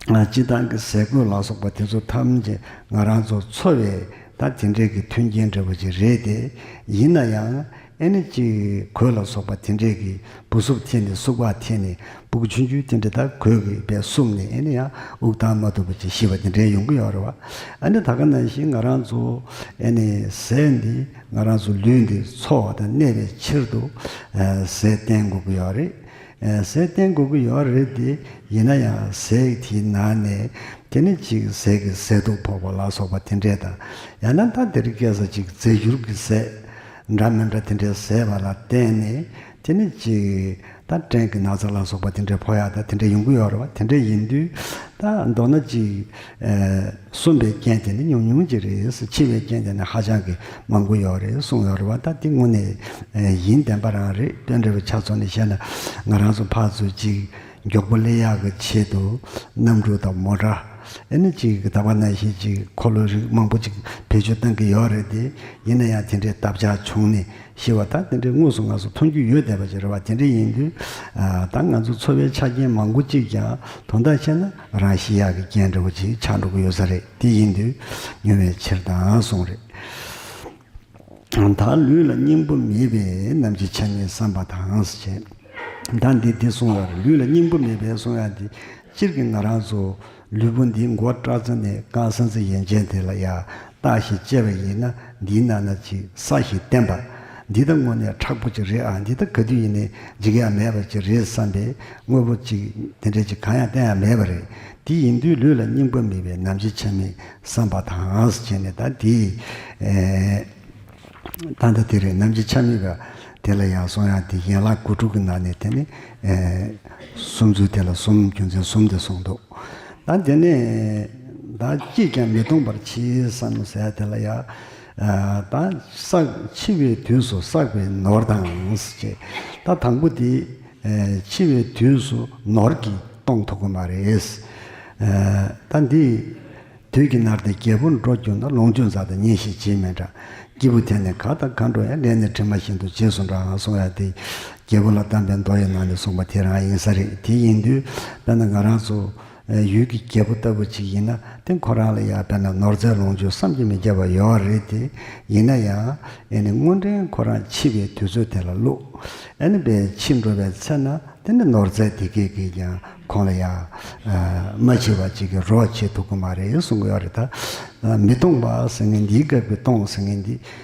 སྤྱི་བཏང་གི་ཟས་གོས་ལ་སོགས་པ་དེ་ཚོ་ཐམས་ཅད་ང་རང་ཚོར་འཚོ་བའི་ད་དེ་འབྲེལ་གྱི་མཐུན་རྐྱེན་འདྲ་བོ་ཅིག་རེད་དེ། ཡིན་ན་ཡང། ཨེ་ནི་ཅི། གོས་ལ་སོགས་པ་དེ་འདྲས་ཀྱིས་སྦུ་སུབ་འཐེན་ནས་སུག་བག་འཐེན་ནས་སྦུ་གུ་ཆུན་ཆུན་དེ་འདྲས་དག་གོས་ཀྱི་བས་བསུབ་ནས་ཨེ་ནི་ཡང་དབུགས་བཏང་མ་ཐུབ་པ་ཅིག་ཤི་བ་དེ་འདྲས་ཡོང་གི་ཡོད་རེད་བ། ཨ་ནི་ད་ག་ན་བཞིན་ང་རང་ཚོ་ཨེ་ནི་ཟས་འདི་ང་རང་ཚོ་ལུས་འདི་འཚོ་བ་དང་གནས་པའི་ཕྱིར་དུ་ཟས་བསྟེན་དགོས་ཀྱི་ཡོད་རེད། ཟས་བསྟེན་དགོས་ཀྱི་ཡོད་རེད་དེ་ཡིན་ན་ཡང་ཟས་དེའི་ནང་ནས་དེ་ནི་ཅིག་ཟས་ཀྱི་ཟས་དུག་ཕོག་པ་ལ་སོགས་པ་དེ་འདྲས་དང་ཡང་ན་མཐའ་དེར་སྐྱེ་ས་ཅིག་རྫས་འགྱུར་གྱི་ཟས། འདྲ་མི་འདྲ་དེ་འདྲའི་ཟས་པ་ལ་བརྟེན་ནས་དེ་ནི་གཅིག། ད་སྐྲན་གྱི་ན་ཚ་ལ་སོགས་པ་དེ་འདྲའི་ཕོག་ཡ་དང་དེ་འདྲའི་ཡོང་གི་ཡོད་རེད་བ་དེ་འདྲ་ཡིན་དུས་ད་མདོར་ན་གཅིག། གསོན་པའི་རྐྱེན་དེ་ནི་ཉུང་ཉུང་གཅིག་རེད་འཆི་བའི་རྐྱེན་དེ་ནི་ཧ་ཅང་གི་མང་པོ་ཡོད་རེད་གསུངས་ཡོད་རེད་བ་ད་དེ་དངོས་གནས་ཡིན་བདེན་པ་རང་རེད་དོན་འདྲ་བའི་ཆ་ཚོགས་ནས་བཤད་ན་ང་རང་ཚོ་ཕར་ཚུར་གཅིག། མགྱོགས་པོ་ལས་ཡག་གི་ཆེད་དུ་གནམ་གྲུ་དང་མོ་ཏྲ། ཨེ་ནི་ཅིག་གི་དག་པ་སྣ་ཤེས་ཅིག་འཁོར་ལོ་རིགས་མང་པོ་ཅིག་བེད་སྤྱོད་གཏང་གི་ཡོད་རེད་དེ། ཡིན་ན་ཡང་དེ་འདྲའི་སྟབས་ཆག་བྱུང་ནས་ཤི་བ་དག་དེ་འདྲའི་དངོས་སུ་ང་ཚོ་མཐོང་རྒྱུ་ཡོད་བསྡད་པ་ཞིག་རེད་བ་དེ་འདྲ་ཡིན་དུས། ད་ང་ཚོའི་འཚོ་བའི་ཆ་རྐྱེན་མང་པོ་ཅིག་ཀྱང་དོན་དག་ཆེ་ན་རང་ཤི་ཡག་གི་རྐྱེན་འདྲ་བོ་ཅིག་ཆགས་འགྲོ་གི་ཡོད་ས་རེད་དེ་ཡིན་དུས། ཉུང་བའི་ཕྱིར་དང་སོང་རེད། དག་ལུས་ལ་སྙིང་པོ་མེད་པས་ནམ་ཞིག་ཆགས་ངེས་བསམ་པ་དང། བྱད་ལྟ་འདི་འདི་གསུང་བ་རེད་ལུས་ལ་སྙིང་པོ་མེད་པས་གསུང་ཡག་འདི་སྤྱིར་གྱི་ང་རང་ཚོ་ལུས་པོ་འདི་མགོ་སྐྲ་རྩ་ནས་རྐང་གསང་ཚིགས་ཡན་ཆད་དེ་ལ་ཡག་རྟགས་ཤིག་དཔྱད་པ་ཡིན་ན་འདིའི་ནང་ན་ཅིག་ས་ཞིག་བསྟན་པ། འདི་ད་དངོས་གནས་ཁྲག་པོ་ཅིག་རེད་ཨ་འདི་ད་ག་དུས་ཡིན་ནས་འཇིག་གི་ཡ་མེད་པ་ཅིག་རེད་བསམ་པས་དངོས་པོ་ཅིག་དེ་འདྲས་ཅིག་གང་ཡང་བསྟན་ཡ་མེད་པ་རེད་དེ་ཡིན་དུས་ལུས་ལ་སྙིང་པོ་མེད་པས་ནམ་ཞིག་ཆགས་ངེས། བསམ་པ་དང་བྱས་ནས་ད་དེ། ད་ལྟ་དེ་རིང་ནམ་འཆི་ཆ་མེད་པ། དེ་ལ་ཡང་སོང་ཡང་དེ་ཡན་ལག་དགུ་དྲུག་གི་ནང་ནས་དེ་ནི། གསུམ་ཚུལ་དེ་ལ་གསུམ་རྒྱུ་མཚན་གསུམ་དེ་གསུངས་འདུག། ད་འདི་ནས། ད་ཅིས་ཀྱང་མི་སྟོངས་པར་འཆིའི་བསམ་ཟས་དེ་ལ་ཡང། ད་བསགས་འཆི་བའི་དུས་སུ་བསགས་པའི་ནོར་དང། ད་དང་པོ་དེ། འཆི་བའི་དུས་སུ་ནོར་གྱིས་གཏོང་ཐུབ་ཀྱི་མ་རེད། ད་འདི། དུས་ཀྱི་ནར་ཏེ་རྒྱལ་པོར་འགྲོ་གྱུར་ན་ལོངས་སྤྱོད་འཛག་སྟེ་ཉེས་ཤིག་བྱེད་མི་འདྲ། སྐྱེས་བུ་དེ་ནི་ག་དང་ག་འགྲོ་ཡང་ལས་ནི་དྲི་མ་བཞིན་དུ་རྗེས་སུ་འབྲང་ང་གསུང་ཡ་དེ། རྒྱལ་པོ་ལ་གདམས་པའི་མདོ་ཡི་ནང་ནས་གསུངས་པ་དེ་རང་ཡིན་ས་རེད་དེ་ཡིན་དུས་དཔེར་ན་ང་རང་ཚོ། ཡུལ་གྱི་རྒྱལ་པོ་ལྟ་བུ་ཅིག་ཡིན་ན་དེ་ཁོ་རང་ལ་ཡང་དཔེར་ན་ནོར་རྫས་ལོངས་སྤྱོད་བསམ་གྱིས་མི་ཁྱབ་པ་ཡོད་རེད་དེ། ཡིན་ན་ཡང། ཨེ་ནི་སྔོན་འགྲེང་ཁོ་རང་འཆི་བའི་དུས་ཚོད་དེ་ལ་བླུག། ཨེ་ནི་བའི་འཆི་འགྲོ་བའི་ཚེ་ན་དེ་ནི་ནོར་རྫས་དེ་སྐད་གིས་ཀྱང་ཁོང་ལ་ཡང། མ་འཆི་བ་ཅིག་གིས་རོགས་བྱེད་ཐུབ་ཀྱི་མ་རེད་གསུང་གི་ཡོད་རེད་ད། མི་སྟོང་པ་ཟེར་ངེས་འདིའི་སྐབས་ཀྱི་སྟོང་ཟེར་ངེས་འདི།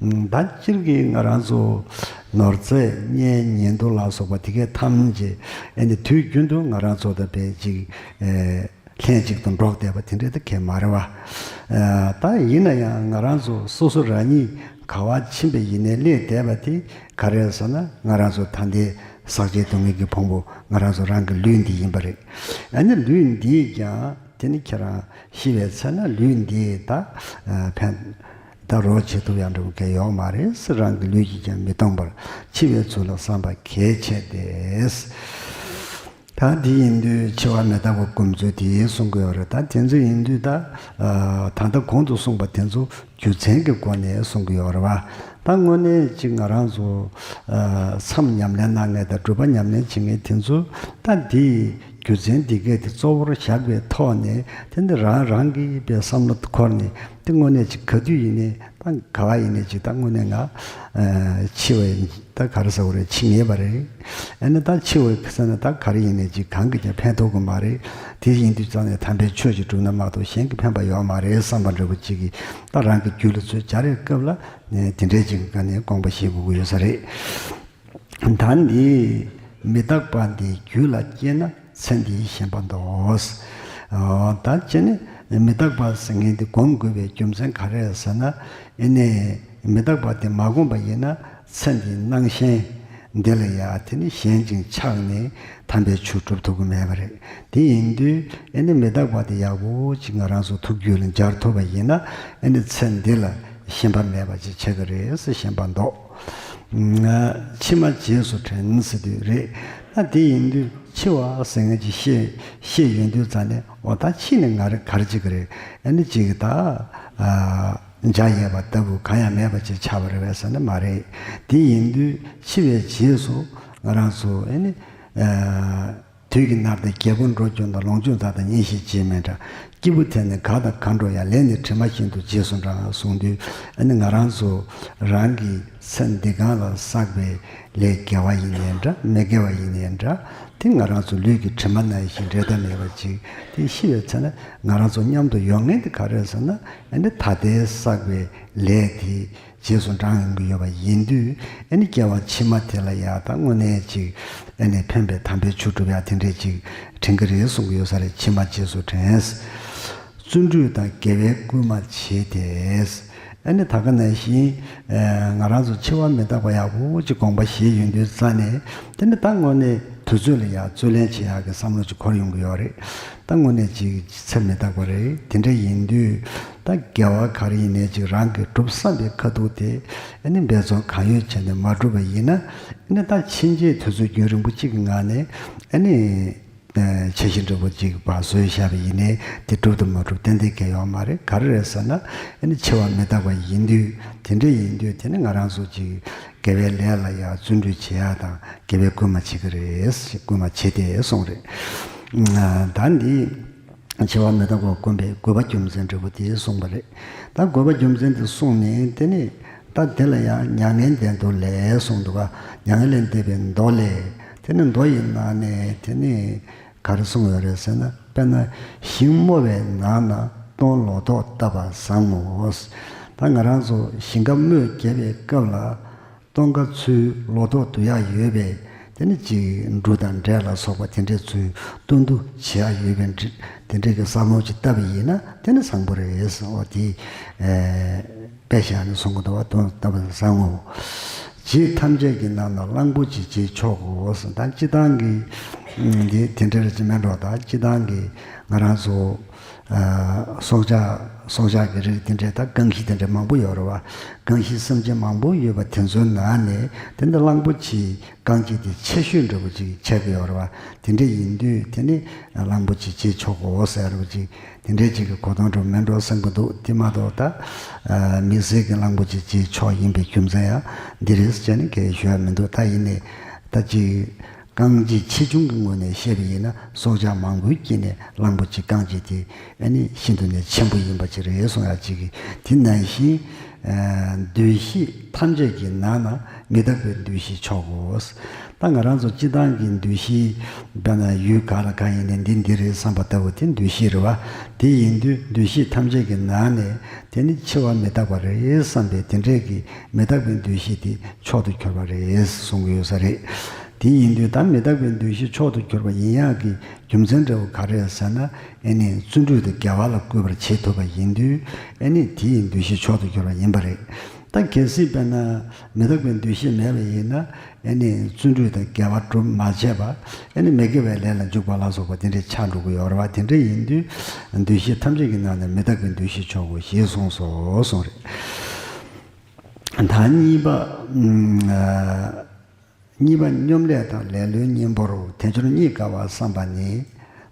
ད་སྤྱིར་གྱི་ང་རང་ཚོ་ནོར་རྫས་རྙེད་ཉེན་འདུག་ལ་སོགས་པ་དེ་གས་ཐམས་ཅད་ཨེ་ནི་དུས་རྒྱུན་དུ་ང་རང་ཚོ་དང་བེད་ཅིག་ལྷན་གཅིག་ཏུ་འགྲོགས་བསྡད་པ་དེ་འདྲའི་ཐ་གས་མ་རེད་བ། ད་ཡིན་ན་ཡང་ང་རང་ཚོ་སོ་སོ་རང་ཉིད་ག་བ་ཕྱིན་པའི་ཡིན་ནའི་སླེས་བསྡད་པ་དེ་ག་རེད་ཟེར་ན་ང་རང་ཚོ་ད་འདས་ཟག་བཅས་སྡུག་བསྔལ་གྱི་ཕུང་པོ་ང་རང་ཚོ་རང་གི་ལུས་འདི་ཡིན་པ་རེད། ཨེ་ནི་ལུས་འདིས་ཀྱང་དེ་ནི་ཁྱེད་རང་ཤི་བའི་ཚེ་ན་ལུས་འདིས་ད་ཕན། ད་རོགས་བྱེད་ཐུབ་ཡང་འགྲུབ་མཁན་ཡོག་མ་རེད་སེ་རང་གི་ལུས་ཀྱིས་ཀྱང་མི་སྟོང་པར་འཆི་བའི་ཚུལ་ལ་བསམ་པ་གལ་ཆེ་དེས། ད་འདི་ཡིན་དུས་འཆི་བ་མེ་ད་པོ་སྒོམ་ཚུལ་དེ་ཡིན་གསུང་གི་ཡོག་རེད་ད་དེ་ཚོ་ཡིན་དུས་ད། ད་ལྟ་གོང་དུ་གསུངས་པ་དེ་ཚོ་རྒྱུ་མཚན་གྱི་སྒོ་ནས་གསུང་གི་ཡོག་རེད་བ། ད་དངོས་གནས་གཅིག་ང་རང་ཚོ། མཚམས་ཉམས་ལེན་གནང་མཁན་དང་སྒྲུབ་པ་ཉམས་ལེན་བྱེད་མཁན་དེ་ཚོ་ད་འདི་རྒྱུ་མཚན་འདི་གས་དེ་གཙོ་བོར་བཞག་པའི་ཐོག་ནས་དེ་འདི་རང་རང་གི་ཡིན་པའི་བསམ་བློ་འཁོར་ནས་དེ་དངོས་གནས་ཅིག་ག་དུས་ཡིན་ནས་ད་ག་ལ་ཡིན་ནས་ཅིག་ད་དངོས་གནས་ང་འཆི་བ་ཡིན་ད་ག་རེ་ཟེར་བ་རེད་འཆི་ངེས་པ་རེད་ཨ་ནི་ད་འཆི་བ་ཟེར་ན་ད་ག་རེ་ཡིན་ནས་ཅིག་གང་གིས་ཀྱང་ཕན་ཐོགས་ཀྱི་མ་རེད་དེ་ཡིན་དུས་ཙམ་ནས་དམ་པའི་ཆོས་ཅིག་བསྒྲུབ་ན་མ་གཏོགས་གཞན་གྱིས་ཕན་པ་ཡོད་མ་རེད་བསམ་པ་འདྲ་བོ་ཅིག་གིས་ད་རང་གི་རྒྱུད་ལ་ཚོས་བྱ་རེས་སྐབས་ལ་དེ་འདྲས་ཅིག་ག་ནས་དགོངས་པ་བཞེས་དགོས་ཀྱི་ཡོད་ས་རེད། ད་ནི་མི་རྟག་པ་འདིའི་རྒྱུད་ལ་སྐྱེས་ན་ཚེ་འདིའི་ཞེན་པ་འདོགས། ད་ཅི་ནས་མི་རྟག་པ་ཟེར་ངེས་འདི་སྒོམ་དགོས་པའི་རྒྱུ་མཚན་ག་རེ་ཟེར་ན། ཨེ་ནས་མི་རྟག་པ་འདི་མ་སྒོམ་པ་ཡིན་ན་ཚེ་འདིའི་སྣང་ཞེན་འདི་ལ་ཡང་དེ་ནི་ཞེན་ཅིང་ཆགས་ནས་དམ་པའི་ཆོས་སྒྲུབ་ཐུབ་ཀྱི་མེད་པ་རེད། དེ་ཡིན་དུས་ཨེ་ནས་མི་རྟག་པ་འདི་ཡག་པོ་ཅིག་ང་རང་ཚོ་ཐུགས་རྒྱུད་ལ་འབྱར་ཐུབ་པ་ཡིན་ན་ཨེ་ནས་ཚེ་འདི་ལ་ཞེན་པ་མེད་པ་ཅིག་བྱེད་ཀྱི་རེད་ཟེར་ཞེན་པ་འདོགས། ཕྱི་མ་རྗེས་སུ་དྲན་ཟེར་དུས་རེད་ན་དེ་ཡིན་དུས་འཆི་བ་ཟེར་ངེས་ཀྱི་ཤེས་ཡོན་དུས་ཙང་ནས་འོ་ད་འཆི་ནི་ང་རེ་གར་ཅིག་གི་རེད་ཡང་ནི་ཅིག་གི་ད་འཇའ་ཡལ་བ་ལྟ་བུ་གང་ཡང་མེད་པ་ཅིག་ཆགས་པ་རེད་བས་ཟེར་ན་མ་རེད་དེ་ཡིན་དུས་འཆི་བའི་རྗེས་སུ་ང་རང་ཚོ་ཡང་ནི། དུས་ཀྱིས་མནར་ཏེ་རྒྱལ་པོ་འགྲོ་གྱུར་འདུག་ལོངས་སྤྱོད་བདག་དང་གཉེན་བཤེས་བྱེད་མེད་འདྲ། སྐྱེས་བུ་དེ་ནི་ག་དང་ག་འགྲོ་ཡང་ལས་ནི་དྲི་མ་བཞིན་དུ་རྗེས་སུ་འབྲང་ང་གསུང་དུས་ནི་ང་རང་ཚོ་རང་གི་ཚེ་འདི་གང་ལ་བསགས་པའི་ལས་དགེ་བ་ཡིན་ཡིན་འདྲ་མི་དགེ་བ་ཡིན་ཡིན་འདྲ་དེ་ང་རང་ཚོ་ལུས་ཀྱི་དྲི་མ་ནང་བཞིན་འབྲལ་ཐབས་མེད་པ་ཅིག་དེ་ཤི་བའི་ཚེ་ན་ང་རང་ཚོ་མཉམ་དུ་ཡོང་ངེས་འདི་ག་རེད་ཟེར་ན་ནི་ད་ལྟའི་བསགས་པའི་ལས་དེ་རྗེས་སུ་འབྲང་ཡོང་གི་ཡོད་པ་ཡིན་དུས་ཨེ་ནི་སྐྱེ་བ་ཕྱི་མ་དེ་ལ་ཡང་ད་དངོས་གནས་ཅིག་ཨེ་ནི་ཕན་པའི་དམ་པའི་ཆོས་སྒྲུབ་ཡག་དེ་འདྲས་ཅིག་དྲན་གི་རེད་གསུང་གི་ཡོད་ས་རེད་ཕྱི་མ་རྗེས་སུ་དྲན། བརྩོན་འགྲུས་དང་དགེ་བའི་བསྐུལ་མ་བྱེད་དེ། ཨེ་ནི་ད་ག་ནས་བཞིན་ང་རང་ཚོ་འཆི་བ་མི་རྟག་པ་ཡག་པོ་ཅིག་དགོངས་པ་བཞེས་ཡོད་འདུག་རྩ་ནས་དེ་ནི་ད་དངོས་གནས་དུས་ཚོད་ལ་ཡང་བརྩོན་ལེན་བྱེད་ཡག་གི་བསམ་བློ་ཅིག་འཁོར་ཡོང་གི་ཡོད་རེད་ད་དངོས་གནས་ཅིག་འཆི་ཚེ་མི་རྟག་པ་རེད་དེ་འདྲས་ཡིན་དུས། ད་རྒྱལ་བ་ག་རེ་ཡིན་མེད་ཅིག་རང་གིས་སྒྲུབ་བསམ་པའི་ཁ་ཐུག་དེ་ཨེ་ནི་འབད་བརྩོན་གང་ཡོད་བྱས་ནས་མ་སྒྲུབ་པ་ཡིན་ན་ཨེ་ནི་ད་ཕྱིན་རྗེས་དུས་ཚོད་རྒྱུན་རིང་པོ་གཅིག་གི་ངང་ནས་ཨེ་ནི། བྱད་བཞིན་འདྲ་པོ་གཅིག་བག་བཟོས་བཞག་པ་ཡིན་ནས་དེ་སྒྲུབ་དང་མ་སྒྲུབ་ཏན་ཏན་འགལ་ཡོང་བ་མ་རེད་ག་རེ་རེད་ཟེར་ན་ཨེ་ནི་ཆེ་བ་མི་རྟག་པ་ཡིན་དུས་དེ་འདྲ་ཡིན་དུས་དེ་ནི་ང་རང་ཚོ་གཅིག་དགེ་བའི་ལས་ལ་ཡང་བརྩོན་འགྲུས་བྱེད་ཡག་དང་དགེ་བའི་བསྐུལ་མ་བྱེད་ཀྱི་རེད་ཞེས་བསྐུལ་མ་བྱས་ཏེ་སོང་རེད། ད་ནི། བྱེ་བ་མི་རྟག་པར་བསྒོམས་པས་དགོས་པ་རྒྱུ་མཚན་འབྲས་བུ་དེ་གསུངས་པ་རེད། ད་དགོས་པ་རྒྱུ་མཚན་དེ་གསུངས་ནས་དེ་ནས་ད་དེ་ལ་ཡང་མྱ་ངན་འདས་མདོ་ལས་གསུངས་འདུག་མྱ་ངན་ལས་འདས་པའི་མདོ་ལས། དེ་ནི་མདོ་ཡི་ནང་ནས་དེ་ནི་ག་རེ་གསུངས་ཡོད་རེད་ཟེར་ན་དཔེར་ན་ཞིང་རྨོ་བའི་ནང་ན་སྟོང་ལོ་ཐོག་བཏབ་པ་བཟང་ངོ། ད་ང་རང་ཚོ་ཞིང་ཁ་རྨོས་བརྒྱབ་པའི་སྐབས་ལ། སྟོང་ཁ་ཚུལ་ལོ་ཏོག་བསྡུ་ཡག་ཡོད་པས་དེ་ནི་གཅིག་འབྲུ་དང་འབྲས་ལ་སོགས་པ་དེ་འདྲས་ཚུལ་སྟོན་བསྡུ་བྱེད་ཡག་ཡོད་པས་དེ་འདྲས་ཀྱི་སྲབ་མོ་ཅིག་བཏབ་པ་ཡིན་ན་དེ་ནི་བཟང་པོ་རེད་ཨོ་དེ་པད་ཤག་ནི་བཟུང་གི་འདུག་བ་དོན་བཏབ་པ་ནི་བཟང་ངོ། རྗེས་ཐམས་ཅད་ཀྱི་ནང་ལ་གླང་པོ་ཅིག་བྱེད་ཆོག་གོ་ད་སྤྱི་བཏང་གི་འདི་དེ་འདྲས་རེད་ཅེས་སྨད་འགྲོ་ད་སྤྱི་བཏང་གི་ང་རང་ཚོ། སྲོག་ཆགས་སྲོག་ཆགས་ཀྱི་རིགས་དེ་འདྲའི་དང་རྐང་བཞི་དེ་འདྲའི་མང་པོ་ཡོད་རེད་བ། རྐང་བཞི་སེམས་ཅན་མང་པོ་ཡོད་པ་དེ་ཚོའི་ནང་ནས་དེ་འདྲ་གླང་པོ་ཆེའི་རྐང་གཅིག་དེ་ཆེ་ཤོས་འདྲ་བོ་ཅིག་ཆགས་ཀྱི་ཡོད་རེད་བ། དེ་འདྲ་ཡིན་དུས་དེ་ནི་གླང་པོ་ཆེ་བྱེད་ཆོག་གོ་ཟེར་རེད་བ་ཅིག་དེ་འདྲའི་ཅིག་གི་གོ་དོན་འགྲོ་མི་འགྲོ་སེམས་ཀྱི་འདུག་དེ་མ་གཏོགས་ད། མི་སེར་གྱི་གླང་པོ་ཆེ་བྱེད་ཆོག་ཡིན་པའི་རྒྱུ་མཚན་ཡང་འདི་རེད་ཟེར་བྱས་ནི་གས་ཞུ་ཡ་མི་འདུག་ད་ཡིན་ནས་ད་ཅིག་རྐང་རྗེས་ཆེ་ཆུང་གི་ངོས་ནས་བཤད་པ་ཡིན་ན་སྲོག་ཆགས་མང་པོའི་དཀྱིལ་ནས་གླང་པོ་ཆེའི་རྐང་རྗེས་དེ་ནི་ཤིན་ཏུ་ནས་ཆེན་པོ་ཡིན་པ་ཅིག་རེད་གསུངས་ཡག་ཅིག་དེ་ནང་བཞིན། འདུ་ཤེས་ཐམས་ཅད་ཀྱི་ནང་ན་མི་རྟག་པའི་འདུ་ཤེས་ཆོག་གོ། ད་ང་རང་ཚོ་སྤྱི་བཏང་གི་འདུ་ཤེས་བས་ན་ཡུལ་ག་ལ་ག་ཡིན་ནས་འདི་འདི་རེད་བསམ་པ་ལྟ་བུ་དེ་འདུ་ཤེས་རེད་བ། དེ་ཡིན་དུས་འདུ་ཤེས་ཐམས་ཅད་ཀྱི་ནང་ནས་དེ་ནི་འཆི་བ་མི་རྟག་པ་རེད་བསམ་པའི་དེ་འདྲས་ཀྱི་མི་རྟག་པའི་འདུ་ཤེས་དེ་མཆོག་ཏུ་གྱུར་པ་རེད་གསུང་གི་ཡོད་ས་རེད། དེ་ཡིན་དུས་ད་མི་རྟག་པའི་འདུ་ཤེས་མཆོག་ཏུ་གྱུར་པ་ཡིན་ཡག་གི་རྒྱུ་མཚན་འབྲས་བུ་ག་རེད་ཟེར་ན་ཨེ་ནི་བརྩོན་འགྲུས་དེ་དགེ་བ་ལ་སྐུལ་བར་བྱེད་ཐུབ་པ་ཡིན་དུས་ཨེ་ནི་དེ་ཡི་འདུ་ཤེས་མཆོག་ཏུ་གྱུར་བ་ཡིན་པ་རེད། ད་གལ་སྲིད་དཔེར་ན་མི་རྟག་པའི་འདུ་ཤེས་མེད་པ་ཡིན་ན་ཨེ་ནི་བརྩོན་འགྲུས་དང་དགེ་བ་སྒྲུབ་མ་བྱས་པ་ཨེ་ནི་མི་དགེ་བའི་ལས་ལ་འཇུག་པ་ལ་སོགས་པ་དེ་འདྲའི་ཆ་འགྲོ་གི་ཡོད་རེད་བ་དེ་འདྲ་ཡིན་དུས་འདུ་ཤེས་ཐམས་ཅད་ཀྱི་ནང་ནས་མི་རྟག་པའི་འདུ་ཤེས་མཆོག་གོ་ཞེས་གསུངས་སོ་གསུངས་རེད། དང་གཉིས་པ། གཉིས་པ། སྙོམ་ལས་དང་ལས་བློའི་གཉེན་པོར་དལ་འབྱོར་གཉིས་དགའ་བར་བསམ་པ་ནི།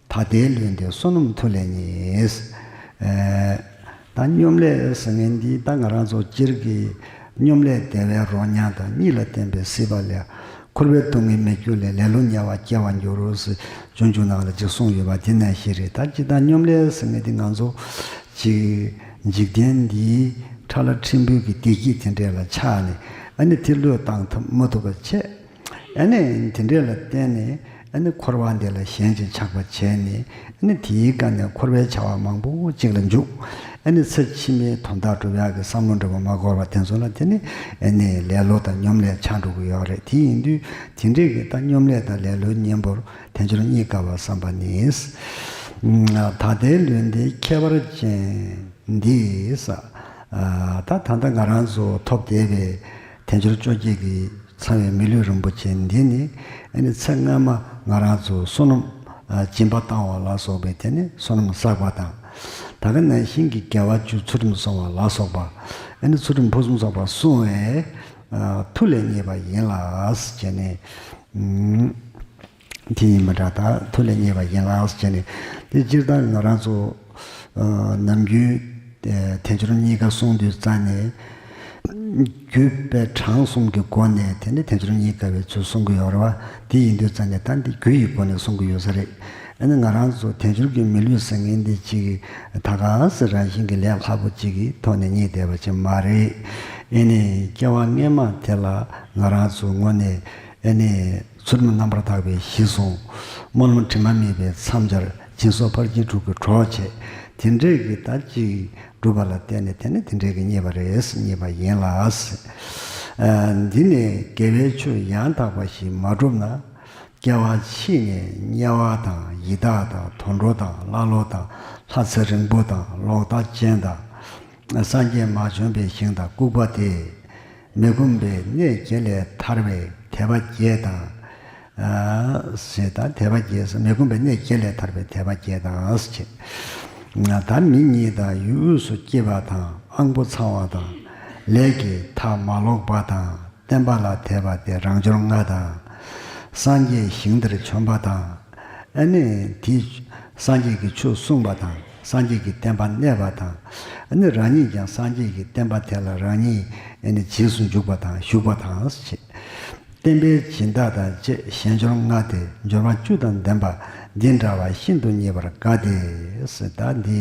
ད་ལྟའི་ལུས་འདི་བསོད་ནམས་མཐུ་ལས་གཉིས། དང་སྙོམ་ལས་ཟེར་ངན་འདིས་ད་ང་རང་ཚོ་སྤྱིར་གྱི། སྙོམ་ལས་བདེ་བའི་རོ་མྱང་དང་གཉིས་ལ་བརྟེན་པའི་སྲིད་པ་ལས། འཁོར་བའི་སྡུག་བསྔལ་མི་སྐྱོ་ལས་ལས་བློ་ཉེ་བར་སྐྱེ་བར་འགྱུར་རོ་ཟེར་སྦྱོང་ཆུང་ནང་ལ་ཅིག་གསུངས་ཡོད་པ་འདི་ནས་ཤེས་རེད་ད་ཅི་ད་སྙོམ་ལས་ཟེར་ངན་འདི་ང་ཚོ་གཅིག། འཇིག་རྟེན་འདིའི་ཁྲ་ལ་ཁྲིམས་དཔོན་གྱི་བདེ་སྐྱིད་དེ་འདྲས་ལ་ཆགས་ནས་ཨ་ནི་དེ་བློས་བཏང་ཐབས་མ་ཐུབ་པ་བྱས། ཨ་ནི་དེ་འདྲས་ལ་བརྟེན་ནས་ཨ་ནི་འཁོར་བ་འདི་ལ་ཞེན་ཅིང་ཆགས་པ་བྱས་ནས་ཨ་ནི་དེའི་སྒ་ནས་འཁོར་བའི་བྱ་བ་མང་པོ་ཅིག་ལ་འཇུག། ཨ་ནི་ཚེ་ཕྱི་མའི་དོན་དག་སྒྲུབ་ཡག་གི་བསམ་བློ་འདྲ་བོ་མ་འཁོར་བ་དེ་ཚོ་ལ་དེ་ནི་ཨ་ནི་ལེ་ལོ་དང་སྙོམ་ལས་ཆགས་འགྲོ་གི་ཡོད་རེད་དེ་ཡིན་དུས་དེ་འདྲས་ཀྱི་ལྟ་སྙོམ་ལས་དང་ལེ་ལོའི་གཉེན་པོར་དལ་འབྱོར་རྙེད་དཀའ་བར་བསམ་པ་ནི། ད་ལྟའི་ལུས་འདི་ཁྱད་པར་ཅན་འདིས། ད་ད་ལྟ་ང་རང་ཚོ་ཐོབ་བསྡད་པའི་དལ་འབྱོར་བཅོ་བརྒྱད་ཀྱི་ཚང་བའི་མི་ལུས་རིན་པོ་ཆེ་འདི་ནི། ཚེ་སྔ་མ་ང་རང་ཚོ་བསོད་ནམས་སྦྱིན་པ་བཏང་བ་ལ་སོགས་པའི་ཐད་ནས་བསོད་ནམས་བསགས་པ་དང། ད་ག་ནང་བཞིན་གྱི་དགེ་བ་བཅུ་ཚུལ་ཁྲིམས་སྲུང་བ་ལ་སོགས་པ། ཚུལ་ཁྲིམས་ཕུན་སུམ་ཚོགས་པ་སྲུང་བའི། མཐུ་ལས་རྙེད་པ་ཡིན་ལ། བྱས་ནས། དེ་ཡིན་མི་འདྲ་ད། མཐུ་ལས་རྙེད་པ་ཡིན་ལ། བྱས་ནས། དེ་སྤྱིར་བཏང་ང་རང་ཚོ། ནམ་རྒྱུན། དལ་འབྱོར་གཉིས་ཀ་གསུང་དུས་རྩ་ནས། རྒྱུད་སྤེལ་དྲང་གསུམ་གྱི་སྒོ་ནས་དེ་ནི་དལ་འབྱོར་གཉིས་ཀ་བའི་ཚུལ་གསུང་གི་ཡོད་རེད་བ། དེ་ཡིན་དུས་རྩ་ནས་ད་འདི་རྒྱུད་ཡི་སྒོ་ནས་གསུང་གི་ཡོད་ས་རེད། ཨ་ནི་ང་རང་ཚོ་དལ་འབྱོར་གྱི་མི་ལུས་ཟེར་མཁན་འདི་ཅིག་ད་ག་ཟེ་རང་བཞིན་གྱི་ལས་སླ་པོ་ཅིག་གི་ཐོག་ནས་རྙེད་བསྡད་པ་ཅིག་མ་རེད། ཨེ་ནི་སྐྱེ་བ་སྔན་མ་དེ་ལ་ང་རང་ཚོའི་སྔོན་ནས་ཨེ་ནི་ཚུལ་ཁྲིམས་རྣམ་པར་དག་པའི་གཞི་བཟུང། རྨོ་ལུང་དྲི་མ་མེད་པའི་མཚམས་སྦྱར་སྦྱིན་སོགས་ཕར་གྱིས་དྲུག་གི་གྲོགས་བྱས། དེ་འདྲས་ཀྱི་ད་ཅིག་སྒྲུབ་པ་ལ་བརྟེན་ནས་དེ་ནི་དེ་འདྲས་ཀྱི་རྙེད་པ་རེད་རྙེད་པ་ཡིན་ལགས། འདི་ནས་དགེ་བའི་ཆོས་ཡང་དག་པ་ཞིག་མ་བསྒྲུབས་ན། སྐྱེ་བ་ཕྱིས་ནས་དམྱལ་བ་དང་ཡི་དྭགས་དང་དུད་འགྲོ་དང་ཀླ་ཀློ་དང་ལྷ་ཚེ་རིང་པོ་དང་ལོག་ལྟ་ཅན་དང། སངས་རྒྱས་མ་བྱོན་པའི་ཞིང་དང་ལྐུགས་པ་སྟེ། མི་སྒོམ་པའི་གནས་བརྒྱད་ལས་ཐར་བའི་དད་པ་བརྒྱད་དང། ཞེས་དང། དད་པ་བརྒྱད་སོགས་མི་སྒོམ་པའི་གནས་བརྒྱད་ལས་ཐར་བའི་དད་པ་བརྒྱད་དང། ཞེས་དང། མི་གཉིས་དང་ཡུལ་དབུས་སུ་སྐྱེས་པ་དང་ཨང་པོ་ཚང་བ་དང། ལས་ཀྱི་མཐའ་མ་ལོག་པ་དང། བསྟན་པ་ལ་དད་པ་སྟེ་རང་འབྱོར་ལྔ་དང། སངས་རྒྱས་ཞིང་དེར་བྱོན་པ་དང། ཨེ་ནི། དེས་སངས་རྒྱས་ཀྱི་ཆོས་གསུངས་པ་དང་སངས་རྒྱས་ཀྱི་བསྟན་པ་གནས་པ་དང། ཨེ་ནི་རང་ཉིད་ཀྱང་སངས་རྒྱས་ཀྱི་བསྟན་པ་དེ་ལ་རང་ཉིད་ཨེ་ནི་འཇིགས་སུ་འཇུག་པ་དང་ཞུགས་པ་དང། བསྟན་པའི་སྦྱིན་བདག་དང་བཅས་གཞན་འབྱོར་ལྔ་སྟེ་འབྱོར་པ་བཅུ་དང་ལྡན་པ་འདི་འདྲ་བ་ཤིན་ཏུ་མཉེས་པར་དགའ་སྟེ། བདག་འདི།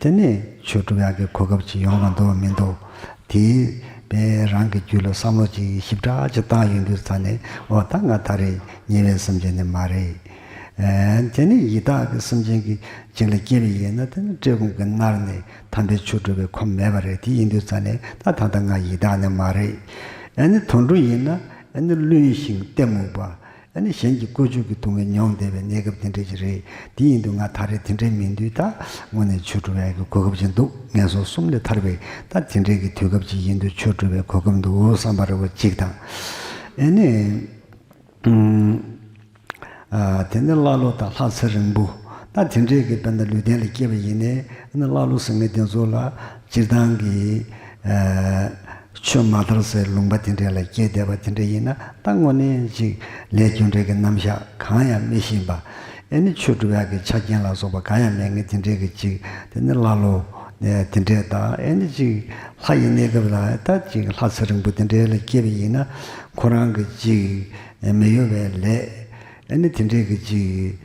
དེ་ནི་ཆོས་སྒྲུབ་ཡག་གི་གོ་སྐབས་ཅིག་ཡོང་ལ་འདོད་མི་འདུག་དེ་བས་རང་གི་རྒྱུད་ལ་བསམ་བློ་ཅིག་ཞིབ་ཕྲ་ཅིག་བཏང་ཡོང་རྒྱུ་ད་ནི་འོ་ད་ང་ད་རེས་ཉེ་བའི་སེམས་ཅན་ནི་མ་རེད། དེ་ནི་ཡི་དྭགས་ཀྱི་སེམས་ཅན་གྱི་ཅིག་ལ་སྐྱེས་པས་ཡིན་ན་དེ་ནི་བཀྲེས་སྐོམ་གྱིས་མནར་ནས་དམ་པའི་ཆོས་སྒྲུབ་པའི་ཁོམ་མེད་པ་རེད་དེ་ཡིན་དུས་ད་ནི་ད་ད་ལྟ་ང་ཡི་དྭགས་ནི་མ་རེད། ཨེ་ནི་དོན་དྲུག་ཡིན་ན་ཨེ་ནི་བླུན་ཞིང་གཏི་མུག་པ། ད་ནི་གཞན་གྱིས་བཀོལ་སྤྱོད་ཀྱི་ལྟུང་བའི་མྱོང་བདེ་བའི་གནས་སྐབས་དེ་འདྲས་ཀྱི་རེད། དེ་ཡིན་དུས་ང་ད་རེས་དེ་འདྲའི་མི་འདུག་ད་དངོས་ནས་ཆོས་བྲོ་བའི་གོ་སྐབས་ཅིག་འདུག་ངལ་སོ་གསུམ་ལས་ཐར་བའི་ད་དེ་འདྲས་ཀྱི་དུས་སྐབས་ཅིག་ཡིན་དུས་ཆོས་བྲོ་བའི་གོ་སྐབས་འདུག་བསམ་པར་རེ་བ་གཅིག་དང། ཨེ་ནས། དེ་ནི་ཀླ་ཀློ་དང་ལྷ་ཚེ་རིང་པོ་ད་དེ་འདྲས་ཀྱི་དཔེ་ཟླ་ལུས་ལྡན་ལ་སྐྱེས་པ་ཡིན་ནའི་ཨེ་ནས་ཀླ་ཀློ་ཟེར་མཁན་དེ་ཚོ་ལ་སྤྱིར་བཏང་གི་ཆོས་མ་དར་སའི་ལུང་པ་དེ་འདྲའི་ལ་སྐྱེས་བསྡད་པ་དེ་འདྲ་ཡིན་ན་ད་དངོས་གནས་ཅིག་ལས་རྒྱུ་འབྲས་ཀྱི་རྣམ་གཞག་གང་ཡང་མི་ཤེས་པ། ཨེ་ནི་ཆོས་སྒྲུབ་ཡག་གི་ཆ་རྐྱེན་ལ་སོགས་པ་གང་ཡང་མེད་ངེས་དེ་འདྲའི་གི་ཅིག་དེ་ནི་ཀླ་ཀློ། དེ་འདྲས་ད་ཨེ་ནི་ཅིག་ལྷ་ཡི་གནས་སྐབས་ལ་ད་ཅིག་ལྷ་ཚེ་རིང་པོ་དེ་འདྲའི་ལ་སྐྱེས་པ་ཡིན་ན་ཁོ་རང་གི་ཅིག་མི་གཡོ་བའི་ལས། ཨེ་ནི་དེ་འབྲས་ཀྱི་གཅིག།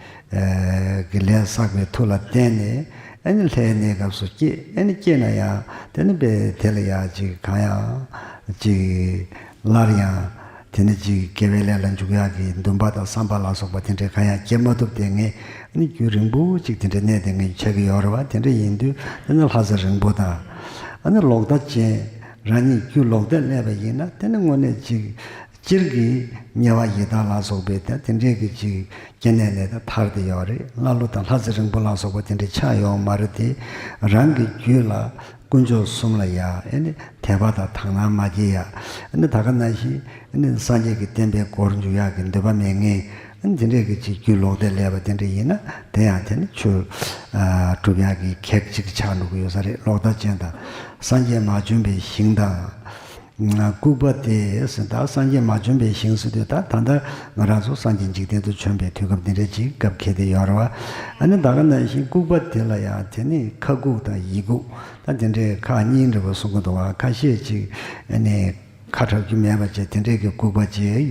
གི་ལས་བསགས་པའི་མཐུ་ལ་བརྟེན་ནས་ཨེ་ནི་ལྷའི་གནས་སྐབས་སུ་སྐྱེ་ཨེ་ནི་སྐྱེས་ན་ཡང་དེ་ནི་པའི་དེ་ལ་ཡང་གཅིག་གང་ཡང་གཅིག། སླར་ཡང་དེ་ནི་གཅིག་དགེ་བའི་ལས་ལ་འཇུག་ཡང་གི་འདུན་པ་དང་བསམ་པ་ལ་སོགས་པ་དེ་འདྲས་གང་ཡང་སྐྱེ་མ་ཐུབ་དེ་ངས་ཨེ་ནི་རྒྱུ་རིང་པོ་གཅིག་དེ་འདྲས་གནས་དེ་ངས་འཆད་ཀྱི་ཡོད་རེད་བ་དེ་འདྲས་ཡིན་དུས་དེ་ནི་ལྷ་ས་རིང་པོ་དང། ཨེ་ནི་ལོག་ལྟ་ཅན། རང་ཉིད་རྒྱུ་ལོག་ལྟས་གནས་པ་ཡིན་ན་དེ་ནི་དངོས་གནས་གཅིག། སྤྱིར་གྱི། དམྱལ་བ་ཡི་དྭགས་ལ་སོགས་པའི་དེ་འདྲས་ཀྱི་ཅིག། སྐྱེ་གནས་ལས་དང་ཐར་དེ་ཡོག་རེད་ཀླ་ཀློ་དང་ལྷ་ཚེ་རིང་པོ་ལ་སོགས་པ་དེ་འདྲས་ཆགས་ཡོག་མ་རེད་དེ། རང་གི་རྒྱུད་ལ། དཀོན་མཆོག་གསུམ་ལ་ཡ། དད་པ་དང་དག་སྣང་མ་སྐྱེ་ཡ། ད་ག་ན་ཞིག། སངས་རྒྱས་ཀྱི་བསྟན་པའི་སྒོར་འཇུག་ཡག་གི་འདོད་པ་མེད་ངེས། དེ་འདྲས་ཀྱི་ཅིག་རྒྱུད་ལོག་དད་ལས་པ་དེ་འདྲས་ཡིན་ན་དེ་ཡང་དེ་ནི་ཆོས། གྲུབ་ཡག་གི་གེགས་ཅིག་ཆགས་འགྲོ་གི་ཡོད་ས་རེད་ལོག་ལྟ་ཅན་དང། སངས་རྒྱས་མ་བྱོན་པའི་ཞིང་དང། ལྐུགས་པ་དེ་སྲིད་བདག་སངས་རྒྱས་མ་བྱོན་པའི་ཞིང་སྲིད་དུ་ད་ད་ལྟར་ང་རང་ཚོ་སངས་རྒྱས་འཇིག་རྟེན་དུ་བྱོན་པའི་དུས་སྐབས་འདི་འདྲའི་ཅིག་སྐབས་ཁེལ་ཏེ་ཡོར་བ་ཨ་ནི་ད་ག་ན་ཞིང་ལྐུགས་པ་དེ་ལ་ཡང་དེ་ནི་ཁ་ལྐུགས་དང་ཡིད་ལྐུགས་ད་དེ་འདྲའི་ཁག་གཉིས་འདྲ་བོ་གསུང་གི་འདུག་བ་ཁ་ཤས་ཅིག་ཨ་ནི་ཁ་གྲག་རྒྱུ་མེད་པ་བཅས་དེ་འདྲའི་གི་ལྐུགས་པ་ཅིག་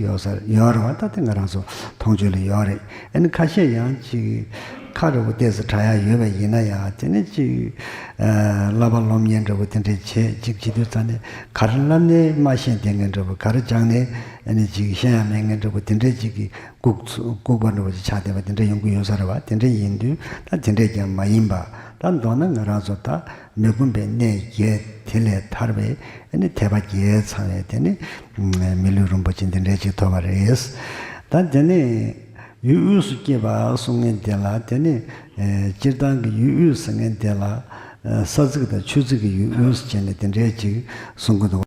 ཡོར་བ་ད་དེ་ང་རང་ཚོ་མཐོང་ཆོས་ལ་ཡོར་རེད་ཨ་ནི་ཁ་ཤས་ཡང་ཅིག་ཁ་རི་བོ་སྟེགས་སུ་གྲ་ཡག་ཡོད་པས་ཡིན་ན་ཡང་དེ་ནི་གཅིག། བསླབ་པ་སློབ་གཉེར་འདྲ་བོ་དེ་འདྲས་བྱེད་ཅིག་བྱེད་དུས་ད་ནི་ག་རི་བསླབ་ནས་མ་ཤེས་དེ་ངན་འདྲ་བོ་ག་རི་སྦྱངས་ནས་ནི་ཅིག་ཤེས་ཡ་མེད་ངན་འདྲ་བོ་དེ་འདྲས་ཅིག་གིས་ལྐུགས་པ་འདྲ་བོ་ཅིག་ཆགས་བསྡད་པ་དེ་འདྲས་ཡོང་གི་ཡོད་ས་རེད་བ་དེ་འདྲས་ཡིན་དུས་ད་དེ་འདྲས་ཀྱང་མ་ཡིན་པ་ད་མདོར་ན་ང་རང་ཚོ་ད་མི་དགོན་པའི་གནས་བརྒྱད་དེ་ལས་ཐར་བའི་ནི་དད་པ་རྒྱས་ཚང་བས་དེ་ནི་མི་ལུས་རུང་པོ་ཅིག་འདི་འདྲས་ཅིག་ཐོབ་པ་རེད། ད་དེ་ནི། ཡུལ་དབུས་སུ་སྐྱེས་པ་སོགས་ངན་འདས་ལ་དེ་ནི། སྤྱིར་བཏང་གི་ཡུལ་དབུས་སུ་ངན་འདས་ལ། ས་ཚིགས་དང་ཆོས་ཚིགས་ཀྱི་ཡུལ་དབུས་སུ་བྱས་ནས་དེ་འདྲའི་ཅིག་གསུང་གི་འདུག།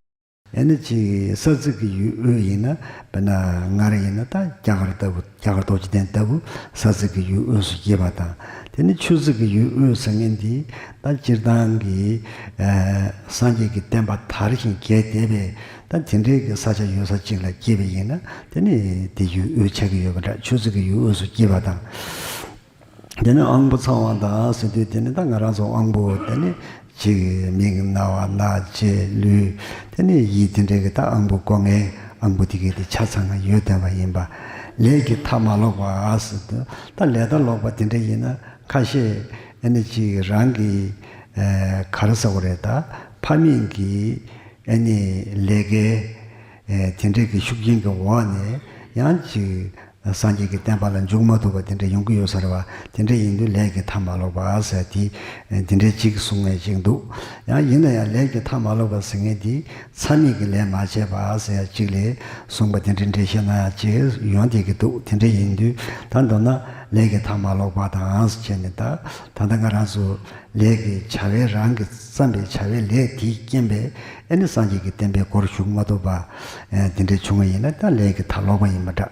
ཡང་ན་ཅིག་ས་ཚིགས་ཀྱི་ཡུལ་དབུས་ཡིན་ན་དཔེར་ན་སྔར་ཡིན་ན་ད་རྒྱ་གར་ལྟ་བུ་རྒྱ་གར་རྡོ་རྗེ་གདན་ལྟ་བུ་ས་ཚིགས་ཀྱི་ཡུལ་དབུས་སུ་སྐྱེས་པ་དང། དེ་ནི་ཆོས་ཚིགས་ཀྱི་ཡུལ་དབུས་སུ་ངན་འདས་ད་སྤྱིར་བཏང་གི། སངས་རྒྱས་ཀྱི་བསྟན་པ་དར་ཞིང་རྒྱས་འདས་པའི། ད་དེ་འདྲའི་གི་ས་ཆ་ཡོད་ས་གཅིག་ལ་སྐྱེས་པ་ཡིན་ན་དེ་ནི་དེ་ཡུལ་དབུས་ཆགས་ཀྱི་ཡོད་པ་འདྲ་ཆོས་ཚུལ་གྱི་ཡུལ་དབུས་སུ་སྐྱེས་པ་དང། དེ་ནི་དབང་པོ་ཚང་བ་དང་ཟེར་དུས་དེ་ནི་ད་ང་རང་ཚོ་དབང་པོ་དེ་ནི་གཅིག་མིག་རྣ་བ་སྣ་ལྕེ་ལུས་དེ་ནི་ཡིད་དེ་འདྲའི་གི་ད་དབང་པོ་གོ་ངའི་དབང་པོ་དེ་གི་དེ་ཆ་ཚང་ང་ཡོད་དོན་པ་ཡིན་པ་ལས་གི་ད་མ་ལོག་པ་ཟེར་དུས་ད་ལས་ད་ལོག་པ་དེ་འདྲ་ཡིན་ན་ཁ་ཤས་ཨེ་ནི་གཅིག་རང་གི་ག་རེ་ཟེར་བ་རེད་ད་ཕ་མེས་ཀྱི་ཨེ་ནི། ལས་སྐལ། དེ་འདྲས་ཀྱི་ཤུགས་རྐྱེན་གྱི་འོག་ནས་ཡང་ཅིག་སངས་རྒྱས་ཀྱི་བསྟན་པ་ལ་འཇུག་མ་ཐུབ་པ་དེ་འདྲས་ཡོང་གི་ཡོད་ས་རེད་བ། དེ་འདྲས་ཡིན་དུས་ལས་ཀྱི་མཐའ་མ་ལོག་པ་ཟེར་དེ་དེ་འདྲས་ཅིག་གསུང་མཁན་ཅིག་འདུག་ཡང་ཡིན་ན་ཡང་ལས་ཀྱི་མཐའ་མ་ལོག་པ་ཟེར་མཁན་དེ་ཚ་མིག་གིས་ལས་མ་བྱས་པ་ཟེར་ཡ་ཅིག་ལས་གསུང་པ་དེ་འདྲས་འགྲེལ་བཤད་གནང་ཡ་ཅིག་ཡོང་བསྡད་ཀྱི་འདུག་དེ་འདྲས་ཡིན་དུས་ད་མདོར་ན་ལས་ཀྱི་མཐའ་མ་ལོག་པ་དང་བཅས་ནས་ད་ད་ལྟ་ང་རང་ཚོ་ལས་ཀྱི་བྱ་བས་རང་གིས་བརྩམས་པའི་བྱ་བའི་ལས་དེས་རྐྱེན་པས་ཨེ་ནི་སངས་རྒྱས་ཀྱི་བསྟན་པའི་སྒོར་ཞུགས་མ་ཐུབ་པ། དེ་འདྲའི་བྱུང་བ་ཡིན་ན་ད་ལས་ཀྱི་ད་ལོག་པ་ཡིན་པ་འདྲ།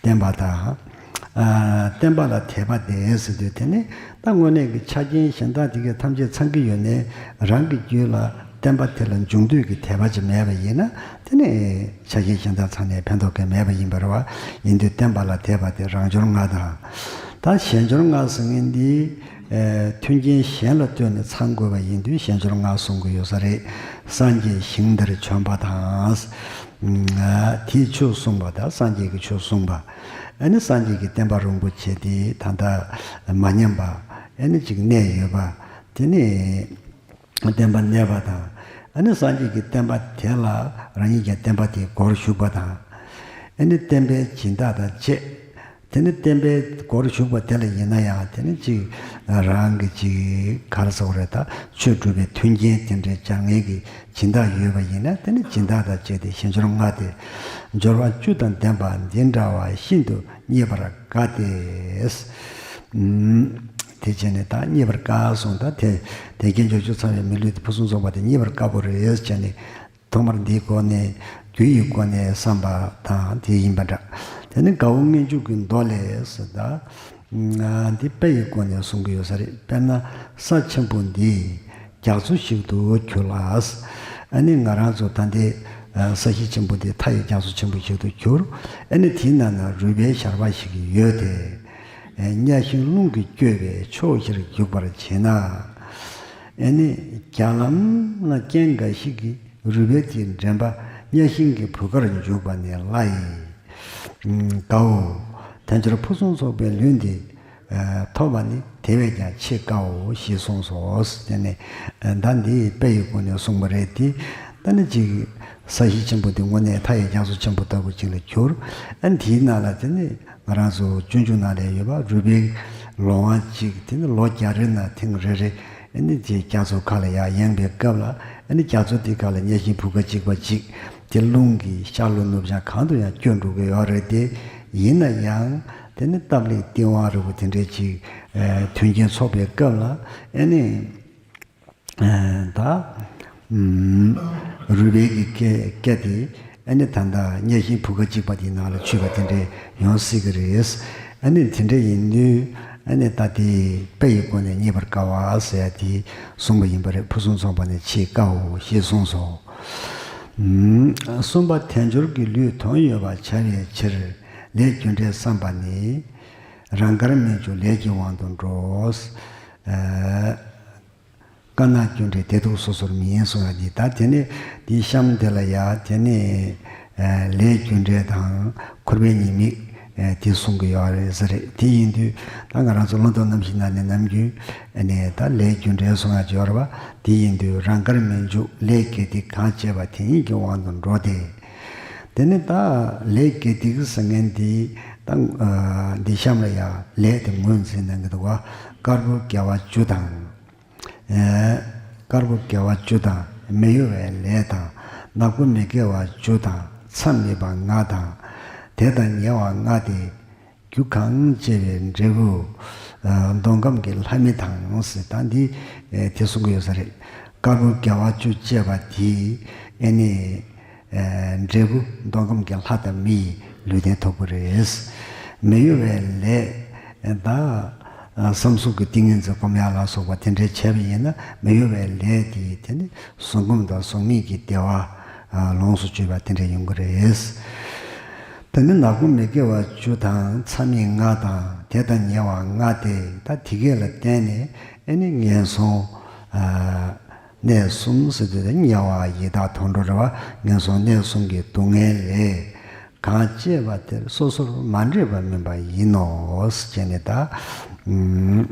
བསྟན་པ་དང། བསྟན་པ་ལ་དད་པ་དེ་ཨེ་ཟེར་དུས་དེ་ནི་ད་དངོས་གནས་ཀྱི་ཆ་རྐྱེན་གཞན་དག་དེ་གས་ཐམས་ཅད་ཚང་གི་ཡོད་ནས་རང་གི་རྒྱུད་ལ་བསྟན་པ་དེ་ལ་འབྱུང་འདོད་ཀྱི་དད་པ་ཅིག་མེད་པ་ཡིན་ན་དེ་ནི་ཆ་རྐྱེན་གཞན་དག་ཚང་ནས་ཕན་ཐོགས་མཁན་མེད་པ་ཡིན་པར་བ་ཡིན་དུས་བསྟན་པ་ལ་དད་པ་དེ་རང་སྦྱོར་ལྔ་དང། ད་གཞན་སྦྱོར་ལྔ་ཟེར་ངེས་འདི། མཐུན་རྐྱེན་གཞན་ལ་ལྟོས་ནས་ཚང་དགོས་པ་ཡིན་དུས་གཞན་སྦྱོར་ངག་གསུང་གི་ཡོད་ས་རེད། སངས་རྒྱས་ཞིང་འདིར་བྱོན་པ་དང། དེས་ཆོས་གསུངས་པ་དང་སངས་རྒྱས་ཀྱི་ཆོས་གསུངས་པ། ཨེ་ནི་སངས་རྒྱས་ཀྱི་བསྟན་པ་རུང་པོ་ཆེ་དེ་ད་ལྟ་མ་ཉམས་པ། ཨེ་ནི་འཇིག་གནས་ཡོད་པ། དེ་ནི། བསྟན་པ་གནས་པ་དང། ཨ་ནི་སངས་རྒྱས་ཀྱི་བསྟན་པ་དེ་ལ་རང་ཉིད་ཀྱང་བསྟན་པ་དེའི་སྒོར་ཞུགས་པ་དང། ཨེ་ནི་བསྟན་པའི་སྦྱིན་བདག་དང་བཅས། དེ་ནི་བསྟན་པའི་སྒོར་ཞུགས་པ་དེ་ལ་ཡིན་ན་ཡང་དེ་ནི་གཅིག་རང་གི་གཅིག་གར་ཟེར་བ་རེད་ད། ཆོས་སྒྲུབ་པའི་མཐུན་རྐྱེན་དེ་འདྲའི་བྱ་ངན་གྱི་སྦྱིན་བདག་ཡོད་པ་ཡིན་ན་དེ་ནི་སྦྱིན་བདག་དང་བཅས་ཏེ་གཞི་སྦྱོར་ལྔ་སྟེ། སྦྱོར་བ་བཅུ་དང་ལྡན་པ་འདི་འདྲ་བ་ཤིན་ཏུ་རྙེད་པར་དཀའ་སྟེ། དེ་བྱས་ནས་བདག་རྙེད་པར་དཀའ་གསུངས་དང་དེ་དེ་སྐད་འཇོག་ཆུ་ཚང་བའི་མི་ལུས་དེ་ཕུན་སུམ་ཚོགས་པ་དེ་རྙེད་པར་དཀའ་བོ་རེད་ཅེས་ནས། ཐོག་མར་འདིའི་སྒོ་ནས་རྒྱུ་ཡི་སྒོ་ནས་བསམ་པ་དང་དེ་ཡིན་པ་འདྲ། དེ་ནི་གའུ་སྔས་མཇུག་གི་མདོ་ལས། འདི་དཔེ་ཡི་སྒོ་ནས་གསུང་གི་ཡོད་ས་རེད་དཔེར་ན་ས་ཆེན་པོ་འདི་རྒྱ་མཚོ་ཞིག་ཏུ་གྱུར་ལ། ཨ་ནི་ང་རང་ཚོ་ད་ལྟའི་ས་གཞི་ཆེན་པོ་འདི་མཐའ་ཡི་རྒྱ་མཚོ་ཆེན་པོ་ཞིག་ཏུ་གྱུར། ཨ་ནི་དེའི་ནང་ན་རུས་པའི་ཞར་བ་ཞིག་ཡོད་དེ། གཉའ་ཤིང་རླུང་གིས་བསྐྱོད་པས་ཕྱོགས་བཞིར་རྒྱུག་པར་བྱེད་ན། ཨེ་ནི། རྒྱ་ལམ་ན་རྐྱེན་འགའ་ཞིག་གིས་རུས་སྦལ་གྱི་འདྲེན་པ་གཉའ་ཤིང་གི་བུ་གར་འཇུག་པ་ནི་སླ་ཡི། དགའོ། དལ་འབྱོར་ཕུན་སུམ་ཚོགས་པའི་ལུས་འདི། ཐོབ་པ་ནི་དེ་བས་ཀྱང་ཆེས་དཀའོ་ཞེས་གསུངས་སོ། དེ་ནི་བརྡ་འདིས་དཔེ་ཡི་སྒོ་ནས་གསུངས་པ་རེད་དེ། ད་ནི་གཅིག། ས་གཞི་ཆེན་པོ་འདི་དངོས་གནས་མཐའ་ཡས་རྒྱ་མཚོ་ཆེན་པོ་ལྟ་བུ་ཅིག་ལ་གྱུར། དེའི་ནང་ལ་དེ་ནི་ང་རང་ཚོ་སྤྱོད་འཇུག་ནང་ལས་ཡོད་པ་རུས་པའི་ལོ་ཝང་གཅིག་དེ་ནི་ལོ་བརྒྱ་རེ་ན་ཐེངས་རེ་རེ་ཨེ་ནི་རྗེས་རྒྱ་མཚོ་ཁ་ལ་ཡར་ཡེངས་པའི་སྐབས་ལ་ཨེ་ནི་རྒྱ་མཚོ་དེའི་ཁ་ལ་ཉལ་ཞིང་བུ་ག་གཅིག་པ་གཅིག་དེ་རླུང་གིས་ཤར་ལྷོ་ནུབ་བྱང་གང་དུ་ཡང་བསྐྱོད་འགྲོ་གི་ཡོད་རེད་དེ། ཡིན་ན་ཡང། དེ་ནི་སྟབས་ལེགས་སྟེས་དབང་རིལ་བོ་དེ་འདྲའི་ཅིག། དོན་རྐྱེན་ཚོགས་པའི་སྐབས་ལ་ཨེ་ནི། ད། རུས་སྦལ་གྱིས་སྐད་དེ། ཨ་ནི་ད་ལྟ་གཉའ་ཤིང་བུ་ག་གཅིག་པ་དེའི་ནང་ལ་ཆུད་པ་དེ་འདྲས་ཡོང་སྲིད་ཀྱི་རེད། ཨ་ནི་དེ་འདྲས་ཡིན་དུས། ཨ་ནི་ད་དེ་དཔེ་ཡི་སྒོ་ནས་རྙེད་པར་དཀའ་བ་ཟེར་ཡ་དེ་གསུངས་པ་ཡིན་པ་རེད་ཕུན་སུམ་ཚོགས་པ་ནས་ཆེས་དཀའ་འོ་ཞེས་གསུངས་སོ། གསུམ་པ་དལ་འབྱོར་གྱི་ལུས་དོན་ཡོད་པར་བྱ་བའི་ཕྱིར། ལས་རྒྱུ་འབྲས་བསམ་པ་ནི། རང་དགར་མིན་ཆུང་ལས་ཀྱི་དབང་དུ་འགྲོ། དཀར་ནག་སྐྱོན་བྲལ་བདེ་སྡུག་སོ་སོར་མི་ཡན་གསུང་བ་ནི་ད་དེ་ནས་འདི་གཤམ་དེ་ལ་ཡང་དེ་ནས་ལས་སྐྱོན་བྲལ་དང་འཁོར་བའི་ཉེས་དམིགས་དེ་གསུང་གི་ཡོད་རེད་ས་རེད་དེ་ཡིན་དུས་ད་ང་རང་ཚོ་བློ་དོགས་ནམ་ཞིག་ནང་ནས་ནམ་རྒྱུན་ནས་ད་ལས་སྐྱོན་བྲལ་གསུང་ཡག་ཡོད་རེད་བ་དེ་ཡིན་དུས་རང་དགར་མི་འཇུག་ལས་ཀྱི་དེ་གང་བྱས་པ་དེ་ཉིད་ཀྱི་དབང་དུ་འགྲོ་སྟེ། དེ་ནི་ད་ལས་དགེ་སྡིག་ཟེར་མཁན་དེ་ད་འདི་གཤམ་ལ་ཡང་ལས་དེ་ངོས་འཛིན་གནང་གི་འདུག་བ་དཀར་པོ་རྒྱལ་བ་བཅུ་དང། དཀར་པོ་རྒྱལ་བ་བཅུ་དང་མི་གཡོ་བའི་ལས་དང། ནག་པོ་མི་དགེ་བ་བཅུ་དང་མཚམས་མེད་པ་ལྔ་དང། དེ་དང་ཉེ་བ་ལྔ་སྟེ། རྒྱུ་གང་ཅེས་པའི་འབྲས་བུ། མདོ་ཁམས་ཀྱི་ལྷ་མི་དང་ཟེར་ད་འདི་དེ་གསུང་གི་ཡོད་ས་རེད། དཀར་པོ་རྒྱལ་བ་བཅུ་བཅས་པ་དེ་ཨེ་ནི། འབྲས་བུ་མདོ་ཁམས་ཀྱི་ལྷ་དང་མི་ཡི་ལུས་རྟེན་ཐོབ་གི་རེད། མི་གཡོ་བའི་ལས། ད། བསམ་གཟུགས་ཀྱི་ཏིང་ངེ་འཛིན་སྒོམ་ཡ་ལ་སོགས་པ་དེ་འདྲའི་བྱས་པ་ཡིན་ན་མི་གཡོ་བའི་ལས་དེ་དེ་ནི་གཟུགས་སྒོམ་དང་གཟུགས་མེད་ཀྱི་བདེ་བ། ལོངས་སུ་སྤྱོད་པ་དེ་འདྲ་ཡོང་གི་རེད། བུད་མེད་ནག་པོ་མི་དགེ་བ་བཅུ་དང་མཚམས་མེད་ལྔ་དང་དེ་དང་ཉེ་བ་ལྔ་སྟེ་ད་དེ་སྐད་ལ་བརྟེན་ནས་ཨེ་ནི་ངན་སོང། གནས་གསུམ་སེམས་ཅན་དང་ཉེ་བ་ཡི་དྭགས་དང་འགྲོ་རེ་བ་ངན་སོང་གནས་གསུམ་གྱི་སྡུག་བསྔལ་ལས། གང་སྐྱེས་པ་དེར་སོ་སོར་མ་འདྲེས་པ་མིན་པ་ཡིན་ནོ་ཞེས་ནི་དང།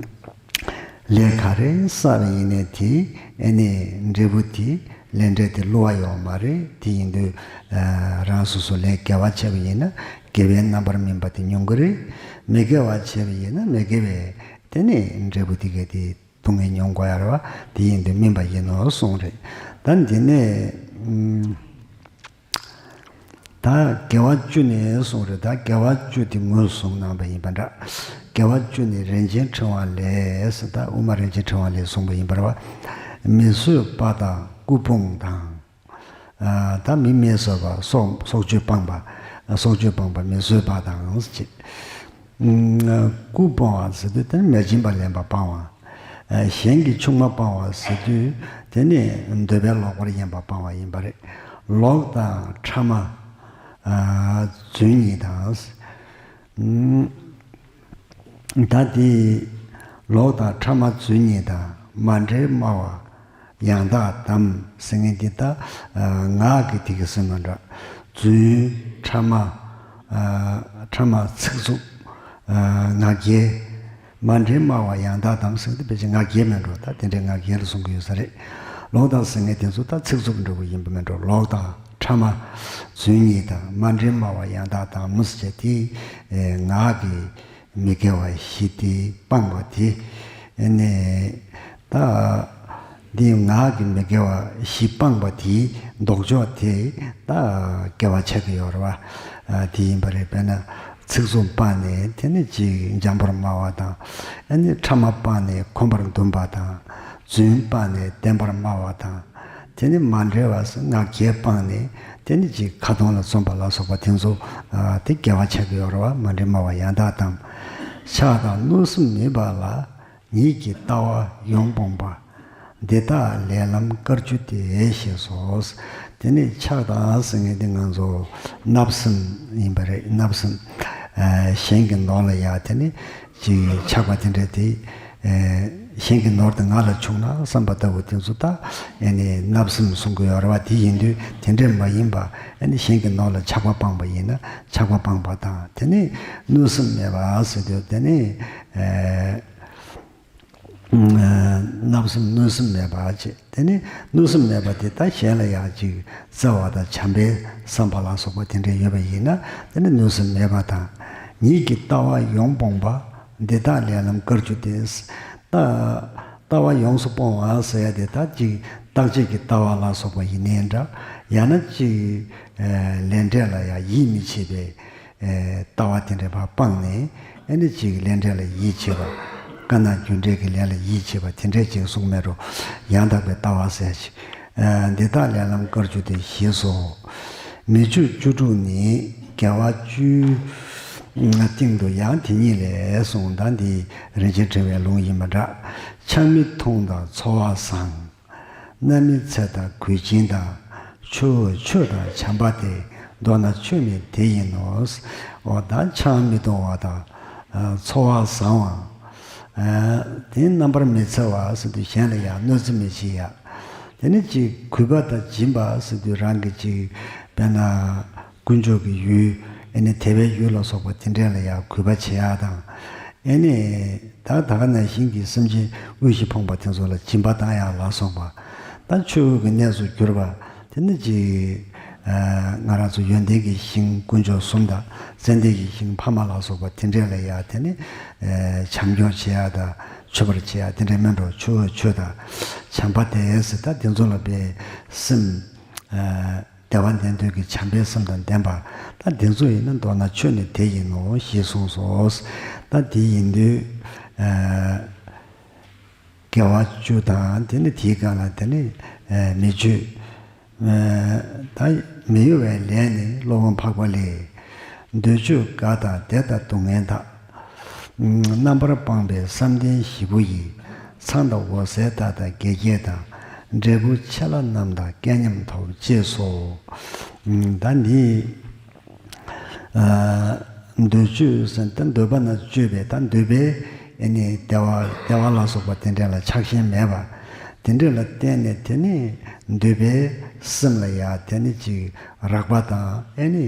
ལས་ག་རེ་བསགས་པ་ཡིན་ནས་དེ་ཨེ་ནས་འབྲས་བུ་དེ་ལས་འབྲས་དེ་བསླུ་བ་ཡོད་མ་རེད་དེ་ཡིན་དུས་རང་སོ་སོ་ལས་དགེ་བ་བྱས་པ་ཡིན་ན་དགེ་བའི་རྣམ་པར་སྨིན་པ་དེ་མྱོང་གི་རེད་མི་དགེ་བ་བྱས་པ་ཡིན་ན་མི་དགེ་བའི་དེ་ནས་འབྲས་བུ་དེ་གས་དེ་སྡུག་བསྔལ་མྱོང་དགོས་ཡར་བ་དེ་ཡིན་དུས་སྨིན་པ་ཡིན་ནོ་གསུངས་རེད་ད་འདི་ནས་ད་དགེ་བ་བཅུ་ནས་གསུངས་རེད་ད་དགེ་བ་བཅུ་དེ་ངོས་བཟུང་གནང་བ་ཡིན་པ་འདྲ། དགེ་བ་བཅུ་ནི་རིན་ཆེན་ཕྲེང་བ་ལས་ད་དབུ་མ་རིན་ཆེན་ཕྲེང་བ་ལས་གསུངས་པ་ཡིན་པར་བ། མི་བཟོད་པ་དང་སྐུ་སྤུངས་དང། ད་མི་མེད་བཟོད་པ་སོགས་སྲོག་གཅོད་སྤངས་པ། སྲོག་གཅོད་སྤངས་པ་མི་བཟོད་པ་དང། སྐུ་སྤང་བ་ཟེར་དུས་དེ་ནི་མེད་སྦྱིན་པ་ལེན་པ་སྤང་བ། གཞན་གྱི་ཕྱུགས་མ་སྤང་བ་ཟེར་དུས་དེ་ནི་འདོད་པའི་ལོག་པར་གཡེམ་པ་སྤང་བ་ཡིན་པ་རེད། ལོག་དང་ཕྲ་མ། རྫུན་གཉིས་དང། ད་དེ། ལོག་དང་ཕྲ་མ་རྫུན་གཉིས་དང་མ་འབྲེལ་སྨྲ་བ། ཡང་དག་དམ་སེང་ངེ་འདི་ལྟ། ངག་གི་ཐིག་གི་སེམས་མ་འདྲ། བརྫུན་ཕྲ་མ། ཕྲ་མ་ཚིག་རྩུབ། ང་རྒྱལ། མ་འདྲེས་སྨྲ་བ་ཡང་དག་དམ་སེང་འདི་དཔེ་ཅི་ང་རྒྱལ་མིན་འགྲོ་ད་དེ་འདྲའི་ང་རྒྱལ་ལ་གསུང་གི་ཡོད་ས་རེད། ལོག་དང་སེང་ངེ་དེ་ཚོ་ད་ཚིག་རྩུབ་འདྲ་བོ་ཡིན་པ་མིན་འགྲོ་ལོག་དང་ཕྲ་མ། བརྫུན་གཉིས་དང་མ་འདྲེས་སྨྲ་བ་ཡང་དག་དམ་སེ་དེ་ངག་གི། མི་དགེ་བ་བཞི་སྟེ་སྤངས་པ་དེ་ནི་བདག། འདི་ངག་གི་མི་དགེ་བ་བཞི་སྤངས་པ་དེའི་ལྡོག་ཕྱོགས་དེ་བདག། དགེ་བ་ཆགས་ཀྱི་ཡོད་རེད་བ། དེ་ཡིན་པ་རེད་བས་ན། ཚིག་གསུམ་སྤངས་ནས་དེ་ནི་གཅིག་འཇམ་པོར་སྨྲ་བ་དང། ཨེ་ནི་ཕྲ་མ་སྤངས་ནས་ཁོམ་པར་འདུན་པ་དང། བརྫུན་སྤངས་ནས་བདེན་པར་སྨྲ་བ་དང། དེ་ནི་མ་འབྲེལ་བར་སྔགས་རྒྱས་སྤངས་ནས་དེ་ནི་གཅིག་ཁ་སྟོང་ལ་རྩོམ་པ་ལ་སོགས་པ་དེ་ཚོ་དེ་དགེ་བ་ཆགས་ཀྱི་ཡོད་རེད་བ་མ་འདྲེས་སྨྲ་བ་ཡང་དག་དང། ཕྱག་དང་བློ་གསུམ་མེད་པ་ལ་ཉིད་ཀྱི་ལྟ་བ་ཡོངས་སྤོང་པ། འདི་དག་ལས་ལམ་དཀར་བཅུ་སྟེ་ཞེས་སོ། དེ་ནི་ཕྱག་དང་སེང་གེ་འདི་ང་ཚོ་བརྣབ་སེམས་ཡིན་པ་རེད་བརྣབ་སེམས། གཞན་གྱི་མདོག་ལ་ཡང་དེ་ནི། ཅེས་ཆགས་པ་དེ་འདྲ་དེ། གཞན་གྱི་ནོར་དེ་ང་ལ་བྱུང་ན་བསམ་པ་ལྟ་བུ་དེ་ཚོ་དག་ཡེ་ནས་བརྣབ་སེམས་བཟུང་དགོས་ར་བ་དེ་ཡིན་དུས་དེ་འདྲས་མ་ཡིན་པ། གཞན་གྱི་ནོར་ལ་ཆགས་པ་སྤངས་པ་ཡིན་ན་ཆགས་པ་སྤངས་པ་དང་དེ་ནས་གནོད་སེམས་མེད་པ་ཟེར་དུས་དེ་ནས། བརྣབ་སེམས་གནོད་སེམས་མེད་པ་ཅེས་དེ་ནི་གནོད་སེམས་མེད་པ་དེ་དག་གཞན་ལ་ཡང་ཅིག་བརྩེ་བ་དང་བྱམས་པའི་བསམ་པ་ལ་སོགས་པ་དེ་འདྲ་ཡོད་པ་ཡིན་ན་དེ་ནི་གནོད་སེམས་མེད་པ་དང། ཉིད་ཀྱི་ལྟ་བ་ཡོངས་སྤོང་པ། འདི་དག་ལས་ལམ་དཀར་བཅུ་སྟེ། ལྟ་བ་ཡོངས་སུ་སྤོང་བ་ཟེར་ཡ་དེ་དག་ཅིག་རྟག་ཆད་ཀྱི་ལྟ་བ་ལ་སོགས་པ་ཡིན་ནའི་འདྲ། ཡང་ན་ཅིག་ལས་འབྲས་ལ་ཡང་ཡིད་མི་ཆེས་པའི་ལྟ་བ་དེ་འདྲའི་བར་སྤངས་ནས་ཨེ་འདྲ་ཅིག་གི་ལས་འབྲས་ལ་ཡིད་ཆེས་པ། དཀར་ནག་རྒྱུ་འབྲས་ཀྱི་ལས་ལ་ཡིད་ཆེས་པ་དེ་འདྲའི་ཅིག་གཟུགས་མེད་རོ། ཡང་དག་པའི་ལྟ་བ་ཟད་ཅིག། འདི་དག་ལས་ལམ་དཀར་བཅུ་སྟེ་ཞེས་སོ། མི་ཆོས་བཅུ་དྲུག་ནི་དགེ་བ་བཅུའི་སྟེང་དུ་ཡང་དེ་ཉིད་ལས་གསུངས་ཟླ་འདིའི་རིན་ཆེན་བྲི་བའི་ལུང་ཡིན་པ་འདྲ། ཆགས་མི་མཐོང་དང་འཚོ་བ་བཟང། རྣམ་སྨིན་ཚད་དང་གོས་སྦྱིན་དང། ཆུ་བོའི་ཆུ་དང་བྱམས་པ་སྟེ་མདོར་ན་ཆོས་ནི་དེ་ཡིན་ནོ། འོ་ད་ཆང་མི་འཐུང་བ་དང། འཚོ་བ་བཟང་བ། དེ་རྣམ་པར་མི་འཚེ་བ་སྲིད་དུ་གཞན་ལ་ཡང་གནོད་འཚེ་མི་བྱེད་ཡ། དེ་ནི་གཅིག་གུས་པ་དང་སྦྱིན་པ་སྲིད་དུ་རང་གིས་གཅིག་བས་ན། དཀོན་མཆོག་གི་ཡུལ། ཨེ་ནི་དེ་བས་ཡུལ་ལ་སོགས་པ་དེ་འདྲས་ལ་ཡང་གུས་པ་བྱེད་ཡ་དང། ཨེ་ནི། ད་ད་ག་ནས་བཞིན་གྱི་སེམས་ཅན་དབུལ་ཞིང་ཕོངས་པ་དེ་ཚོ་ལ་སྦྱིན་པ་བཏང་ཡ་ལ་སོགས་པ། ད་མཆོད་དབུལ་གྱི་གནས་སུ་གྱུར་པ། དེ་ནི་ཅི། ང་རང་ཚོ་ཡོན་ཏན་གྱི་ཞིང་དཀོན་མཆོག་གསུམ་དང་ཙན་དན་གྱི་ཞིང་ཕ་མ་ལ་སོགས་པ་དེ་འདྲས་ལ་ཡང་དེ་ནི། བྱམས་སྐྱོང་བྱེད་ཡ་དང་མཆོད་པར་བྱེད་ཡ་དེ་འདྲས་སྨོན་འགྲོ་ཆུ་བོས་ཆོས་དང། བྱམས་པ་དེས་ད་དེ་ཚོ་ལ་པའི་སེམས། བདེ་བ་ལྡན་འདོད་ཀྱི་བྱམས་པའི་སེམས་དང་ལྡན་པ། ད་དེ་ཚོ་ཡིན་ན་མདོར་ན་ཆོས་ནི་དེ་ཡིན་ནོ་ཞེས་གསུངས་སོ། ད་དེ་ཡིན་དུས། དགེ་བ་བཅུ་དང་དེ་ནི་དེའི་སྒང་ལ་དེ་ནི་མི་སྤྱོད། ད་མི་གཡོ་བའི་ལས་ནི་སློབ་དབང་འཕགས་པ་ལས། འདོད་སྤྱོད་དགའ་དང་བདེ་དང་སྡུག་བསྔལ་དག། རྣམ་པར་སྤངས་པའི་བསམ་གཏན་བཞི་པོ་ཡིས། ཚངས་དང་འོད་གསལ་བདག་དང་དགེ་རྒྱས་དང། འབྲས་བུ་ཆེ་ལ་རྣམས་དང་སྐལ་མཉམ་ཐོབ་ཅེས་སོ། བརྡ་འདི། འདོད་སྤྱོད་ཟེར་ན་འདོད་པ་ན་སྤྱོད་པའི་བརྡ་འདོད་པས་ནི་བདེ་བ་བདེ་བ་ལ་སོགས་པ་དེ་འདྲས་ལ་ཆགས་ཞེན་མེད་པ། དེ་འདྲས་ལ་བརྟེན་ནས་དེ་ནི་འདོད་པའི་སེམས་ལ་ཡང་དེ་ནི་ཅིག་རགས་པ་དང་ཨེ་ནི།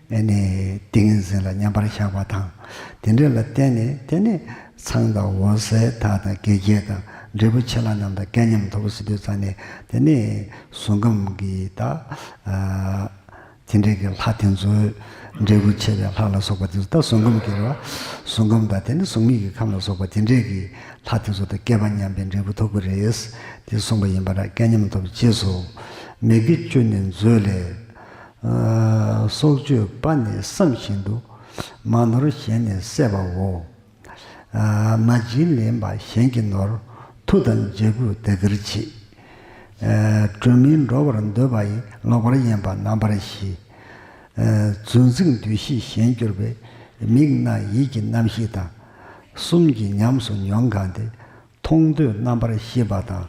ནས་ནི་ཏིང་ངེ་འཛིན་ལ་མཉམ་པར་བཞག་པ་དང། དེ་འདྲ་ལ་བརྟེན་ནས་དེ་ནི་ཚངས་དང་འོད་ཟེར་དག་དང་དགེ་རྒྱས་དང་འབྲས་བུ་ཆེ་ལ་རྣམས་དང་སྐལ་མཉམ་ཐོབ་སྲིད་པའི་ཚ་ནི་དེ་ནི་གཟུང་ཁམས་ཀྱི་དག། དེ་འདྲའི་གི་ལྷ་དེ་ཚོའི་འབྲས་བུ་ཆེ་བའི་ལྷ་ལ་སོགས་པ་དེ་ཚོ་དག་གཟུང་ཁམས་ཀྱི་རོ། གཟུང་ཁམས་དང་དེ་ནི་གཟུགས་མེད་ཀྱི་ཁམས་ལ་སོགས་པ་དེ་འདྲའི་གི་ལྷ་དེ་ཚོ་དང་སྐལ་པ་མཉམ་པའི་འབྲས་བུ་ཐོབ་ཀྱི་རེད། དེ་གསུངས་པ་ཡིན་པ་ན་སྐལ་མཉམ་ཐོབ་ཅེས་སོ། མེད་ཀྱི་བཅུ་ནི་མཛོད་ལས། སྲོག་གཅོད་པ་ནི་བསམ་བཞིན་དུ། མ་ནོར་གཞན་ནི་བསད་པའོ། མ་བྱིན་ལེན་པ་གཞན་གྱི་ནོར། མཐུ་དང་རྗེས་བསྐུལ་དེ་ལྟར་བྱེད། སྒྲོན་མེ་འགྲོ་བར་འདོད་པ་ཡི། ལོག་པར་གཡེམ་པ་རྣམ་པར་ཞི། རྫུན་གཟིགས་འདུས་ཤེས་གཞན་བསྒྱུར་པའི། མིག་རྣ་ཡིད་ཀྱི་རྣམ་ཤེས་དང། གསུམ་གྱིས་ཉམས་སུ་མྱོང་གང་དེ། མཐོང་ཐོས་རྣམ་པར་ཤེས་པ་དང་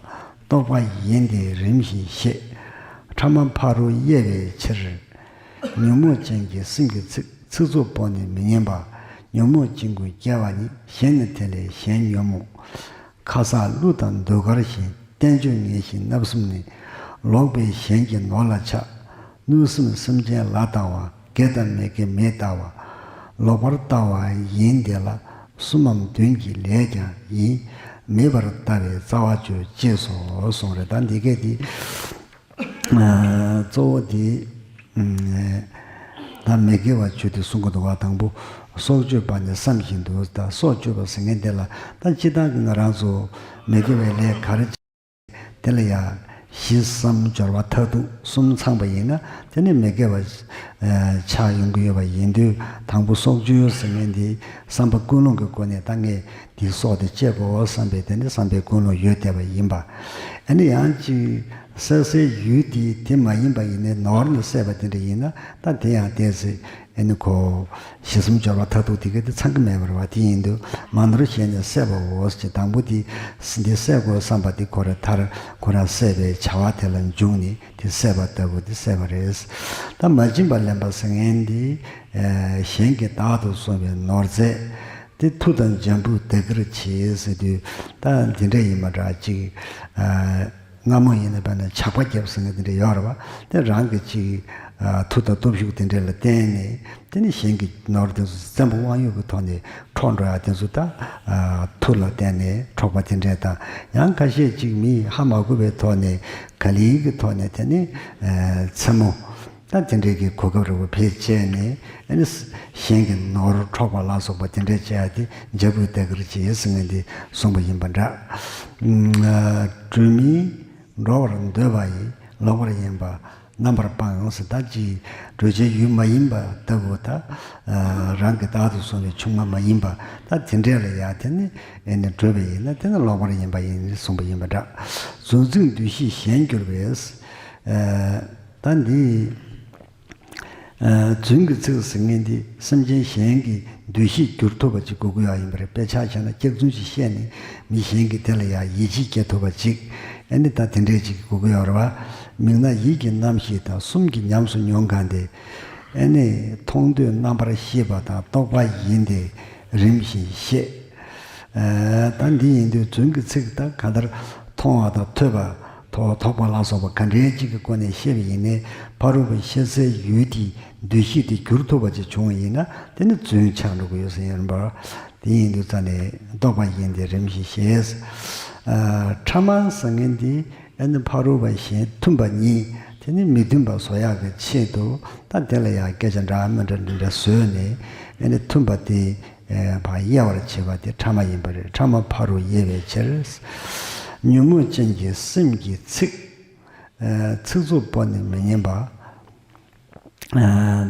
རྟོག་པ་ཡིན་ཏེ་རིམ་བཞིན་ཤེས། ཕྲ་མ་ཕ་རོལ་དབྱེ་བའི་ཕྱིར། ཉོན་མོངས་ཅན་གྱི་སེམས་ཀྱི་ཚིག་ཚོགས་པོ་ནི་མི་སྙན་པ། ཉོན་མོངས་ཅན་ཀུན་སྐྱེ་བ་ནི་གཞན་ནི་དེ་ལས་གཞན་ཉོན་མོངས། ཁ་གསག་གླུ་དང་ཟློས་གར་བཞིན་བསྟན་བཅོས་ངན་བཞིན་བརྣབ་གསུམ་ནི། ལོག་པའི་གཞན་གྱི་ནོར་ལ་ཆགས། གནོད་སེམས་སེམས་ཅན་ལ་བཏང་བ། དགེ་དང་མི་དགེ་མི་ལྟ་བ། ལོག་པར་ལྟ་བ་ཡིན་དེ་ལ་གསུམ་མམ་བདུན་གྱི་ལས་ཀྱང་ཡིན། མིད་པར་ལྟ་བའི་རྩ་བ་གཅོད་ཅེས་སོགས་གསུངས་རེ་ད་འདི་སྐད་དེ། གཙོ་བོ་དེ། ད་མི་དགེ་བ་གཅོད་དེ་གསུང་གི་འདུག་བ་དང་པོ། སྲོག་གཅོད་པ་ནི་བསམ་བཞིན་དུ་ད་སྲོག་གཅོད་པ་ཟེར་མཁན་དེ་ལ་ད་སྤྱི་བཏང་གི་ང་རང་ཚོ་མི་དགེ་བའི་ལས་ག་རེ། དེ་ལ་ཡང་གཞི་བསམ་སྦྱོར་བ་མཐར་ཐུག་གསུམ་ཚང་བ་ཡིན་ན་དེ་ནི་མི་དགེ་བ་ཆགས་ཡོང་གི་ཡོད་པ་ཡིན་དུས་དང་པོ་སྲོག་གཅོད་ཟེར་མཁན་དེའི་བསམ་པ་ཀུན་སློང་གི་སྒོ་ནས་ད་ངས་འདིའི་སྲོག་དེ་གཅད་དགོས་བསམ་པའི་དེ་ནི་བསམ་པའི་ཀུན་སློང་ཡོད་བསྡད་པ་ཡིན་པ། ནི་ཡང་གཅིག་བསད་སའི་ཡུལ་དེ་དེ་མ་ཡིན་པ་ཡིན་ནའི་ནོར་ནི་བསད་པ་དེ་འདྲ་ཡིན་ན་ད་དེ་ཡང་བསྡད་ཟིག་ཨེ་ནི་གོ། ཞེ་གསུམ་སྦྱོར་བ་མཐར་ཐུག་དེ་གའི་དེ་ཚང་གི་མེད་པར་བ་དེ་ཡིན་དུ་མ་ནོར་བྱས་ནས་བསད་པའོ། ཅེས་དང་པོ་དེ་འདི་བསད་དགོས་བསམ་པ་དེ་གོ་རེ་མཐར་ཁོ་རང་བསད་པའི་བྱ་བ་དེ་ལ་འཇུག་ནས་དེ་བསད་པ་ལྟ་བུ་དེ་བསད་པ་རེད། ད་མ་བྱིན་པ་ལེན་པ་ཟེར་ངན་འདི། གཞན་གྱིས་བདག་ཏུ་བཟུང་བའི་ནོར་རྫས། དེ་མཐུ་དང་འཇམ་པོས་བདག་གིར་བྱེད་ཟེར་དུས། ད་འདི་འདྲ་ཡིན་མ་གྲགས་ཅིག། སྔ་མོ་ཡིན་ནའི་བར་ནས་ཆགས་པ་བརྒྱབ་ཟིན་ནི་དེ་འདྲ་ཡོད་རེད་བ། དེ་རང་གི་ཅིག་ཐུགས་དང་སྟོབས་ཤུགས་དེ་འདྲས་ལ་བརྟེན་ནས་དེ་ནི་གཞན་གྱི་ནོར་དེ་ཚོ་བཙན་པོ་དབང་ཡོད་ཀྱི་ཐོག་ནས་འཕྲོག་འགྲོ་ཡ་དེ་ཚོ་ད་ཐུགས་ལ་བརྟེན་ནས་འཕྲོག་པ་དེ་འདྲས་དང་ཡང་ཁ་ཤས་ཅིག་མིས་ཧ་མ་གོ་བའི་ཐོག་ནས་ག་ལིའི་གི་ཐོག་ནས་དེ་ནི་མཚན་མོ། ད་དེ་འདྲས་ཀྱི་གོ་སྐབས་རེ་བོ་བེད་སྤྱད་ནས་ཨ་ནི། གཞན་གྱི་ནོར་འཕྲོག་པ་ལ་སོགས་པ་དེ་འདྲས་བྱས་ཏེ་འཇབ་རྒོལ་ལྟ་གིར་བྱེད་ཡས་ཟེར་ནས་འདི་གསུངས་པ་ཡིན་པ་འདྲ། སྒྲོལ་མས། འགྲོ་བར་འདོད་པ་ཡིས་ལོག་པར་ཡིན་པ་རྣམ་པར་སྤངས་ཡོང་ཟེར་ད་ཅིའི་བགྲོད་བྱའི་ཡུལ་མ་ཡིན་པ་ལྟ་བུ་ད། རང་གིས་བདག་ཏུ་བཟུང་བའི་ཆུང་མ་མ་ཡིན་པ་ད་དེ་འདྲས་ལ་ཡ་དེ་ནི་ཨེ་ནི་བགྲོད་པ་ཡིན་ན་དེ་ནི་ལོག་པར་ཡིན་པ་ཡིན་ནི་གསུངས་པ་ཡིན་པ་འདྲ། གཟུགས་འཛིན་འདུས་ཤེས་གཞན་གྱུར་པས། ད་འདི། རྫུན་གྱི་ཚིག་ཟེར་མཁན་འདི་སེམས་ཅན་གཞན་གྱི་འདུས་ཤེས་བསྒྱུར་ཐུབ་པ་ཅིག་དགོས་ཀྱི་ཡག་ཡིན་པ་རེད་དཔེ་ཆ་ཆ་ན་སྐྱག་རྫུན་ཞིག་བཤད་ནས་མི་གཞན་གྱིས་དེ་ལ་ཡག་ཡིད་ཆེས་སྐྱེ་ཐུབ་པ་ཅིག་ཨེ་ནི་ད་དེ་འདྲས་ཅིག་དགོས་ཀྱི་ཡག་རེད་བ། མིག་ན་ཡིད་ཀྱི་རྣམ་ཤེས་དང་གསུམ་གྱི་ཉམས་སུ་མྱོང་གང་དེ། ཨེ་ནི། མཐོང་ཐོས་རྣམ་པར་ཤེས་པ་དང་རྟོག་པ་ཡིན་ཏེ། རིམ་བཞིན་ཤེས། ད་འདི་ཡིན་དུས་རྫུན་གྱི་ཚིག་ད་ག་ལྟར། མཐོང་བ་དང་ཐོས་པ། ཐོག་ཐོག་པ་ལ་སོགས་པ་ག་འདྲའི་གཅིག་གི་སྒོ་ནས་ཤེས་པ་ཡིན་ནའི་ཕ་རོལ་པོའི་ཤེས་སའི་ཡུལ་དེའི་འདུ་ཤེས་དེ་འགྱུར་ཐུབ་པ་ཅིག་བྱུང་བ་ཡིན་ན་དེ་ནི་རྫུན་ཆགས་འགྲོ་གི་ཡོད་སྲིད་ཡིན་པར་དེ་ཡིན་དུས་རྩ་ནས་བཟློག་པ་ཡིན་ཏེ་རིམ་བཞིན་ཤེས། ཕྲ་མ་བཟང་ངན་འདི་ཨ་ནི་ཕ་རོལ་པ་གཞན་མཐུན་པ་ཉིད་དེ་ནི་མི་མཐུན་པ་བཟོ་ཡག་གི་ཆེད་དུ་དང་དེ་ལ་ཡང་སྐད་ཆ་འདྲ་མི་འདྲ་འདི་འདྲ་བཟོས་ནས་ཨ་ནི་མཐུན་པ་དེ་བར་དབྱེ་བར་བྱེད་པ་དེ་ཕྲ་མ་ཡིན་པ་རེད་ཕྲ་མ་ཕ་རུ་དབྱེ་བའི་ཕྱིར། ཉོན་མོངས་ཅན་གྱི་སེམས་ཀྱི་ཚིག། ཚིག་རྩུབ་པོ་ནི་མི་སྙན་པ།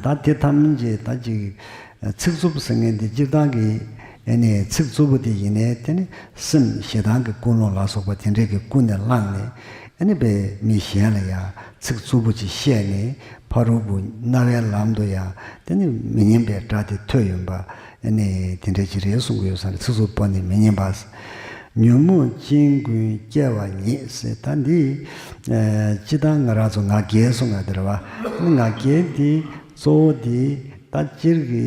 ད་དེ་ཐམས་ཅད་ད་ཅིག། ཚིག་རྩུབ་ཟེར་མཁན་དེ་སྤྱིར་བཏང་གི། ནི་ཚིག་རྩུབ་པོ་དེ་ཡིན། དེ་ནི་སེམས་ཞེ་སྡང་གི་ཀུན་སློང་ལ་སོགས་པ་དེ་འདྲས་ཀྱི་ཀུན་ནས་བསླངས་ནས། པའི་མི་གཞན་ལ་ཡང་ཚིག་རྩུབ་པོ་ཅིག་བཤད་ནས་ཕ་རོལ་པོ་རྣ་བའི་ལམ་དུ་ཡང་དེ་ནི་མི་སྙན་པའི་སྒྲ་དེ་ཐོས་ཡོང་པ་ནི་དེ་འདྲའི་ཅི་རེད་གསུང་གི་ཡོད་ས་ནི་ཚིག་རྩུབ་པོ་ནི་མི་སྙན་པ། ཉོན་མོངས་ཅན་ཀུན་སྐྱེ་བ་ཉིད་ཟེར་ད་འདི་སྤྱི་བཏང་ང་རང་ཚོ་ང་རྒྱལ་གསུང་ང་དེ་རེད་བ། ང་རྒྱལ་འདི་གཙོ་བོ་འདི་ད་སྤྱིར་གི།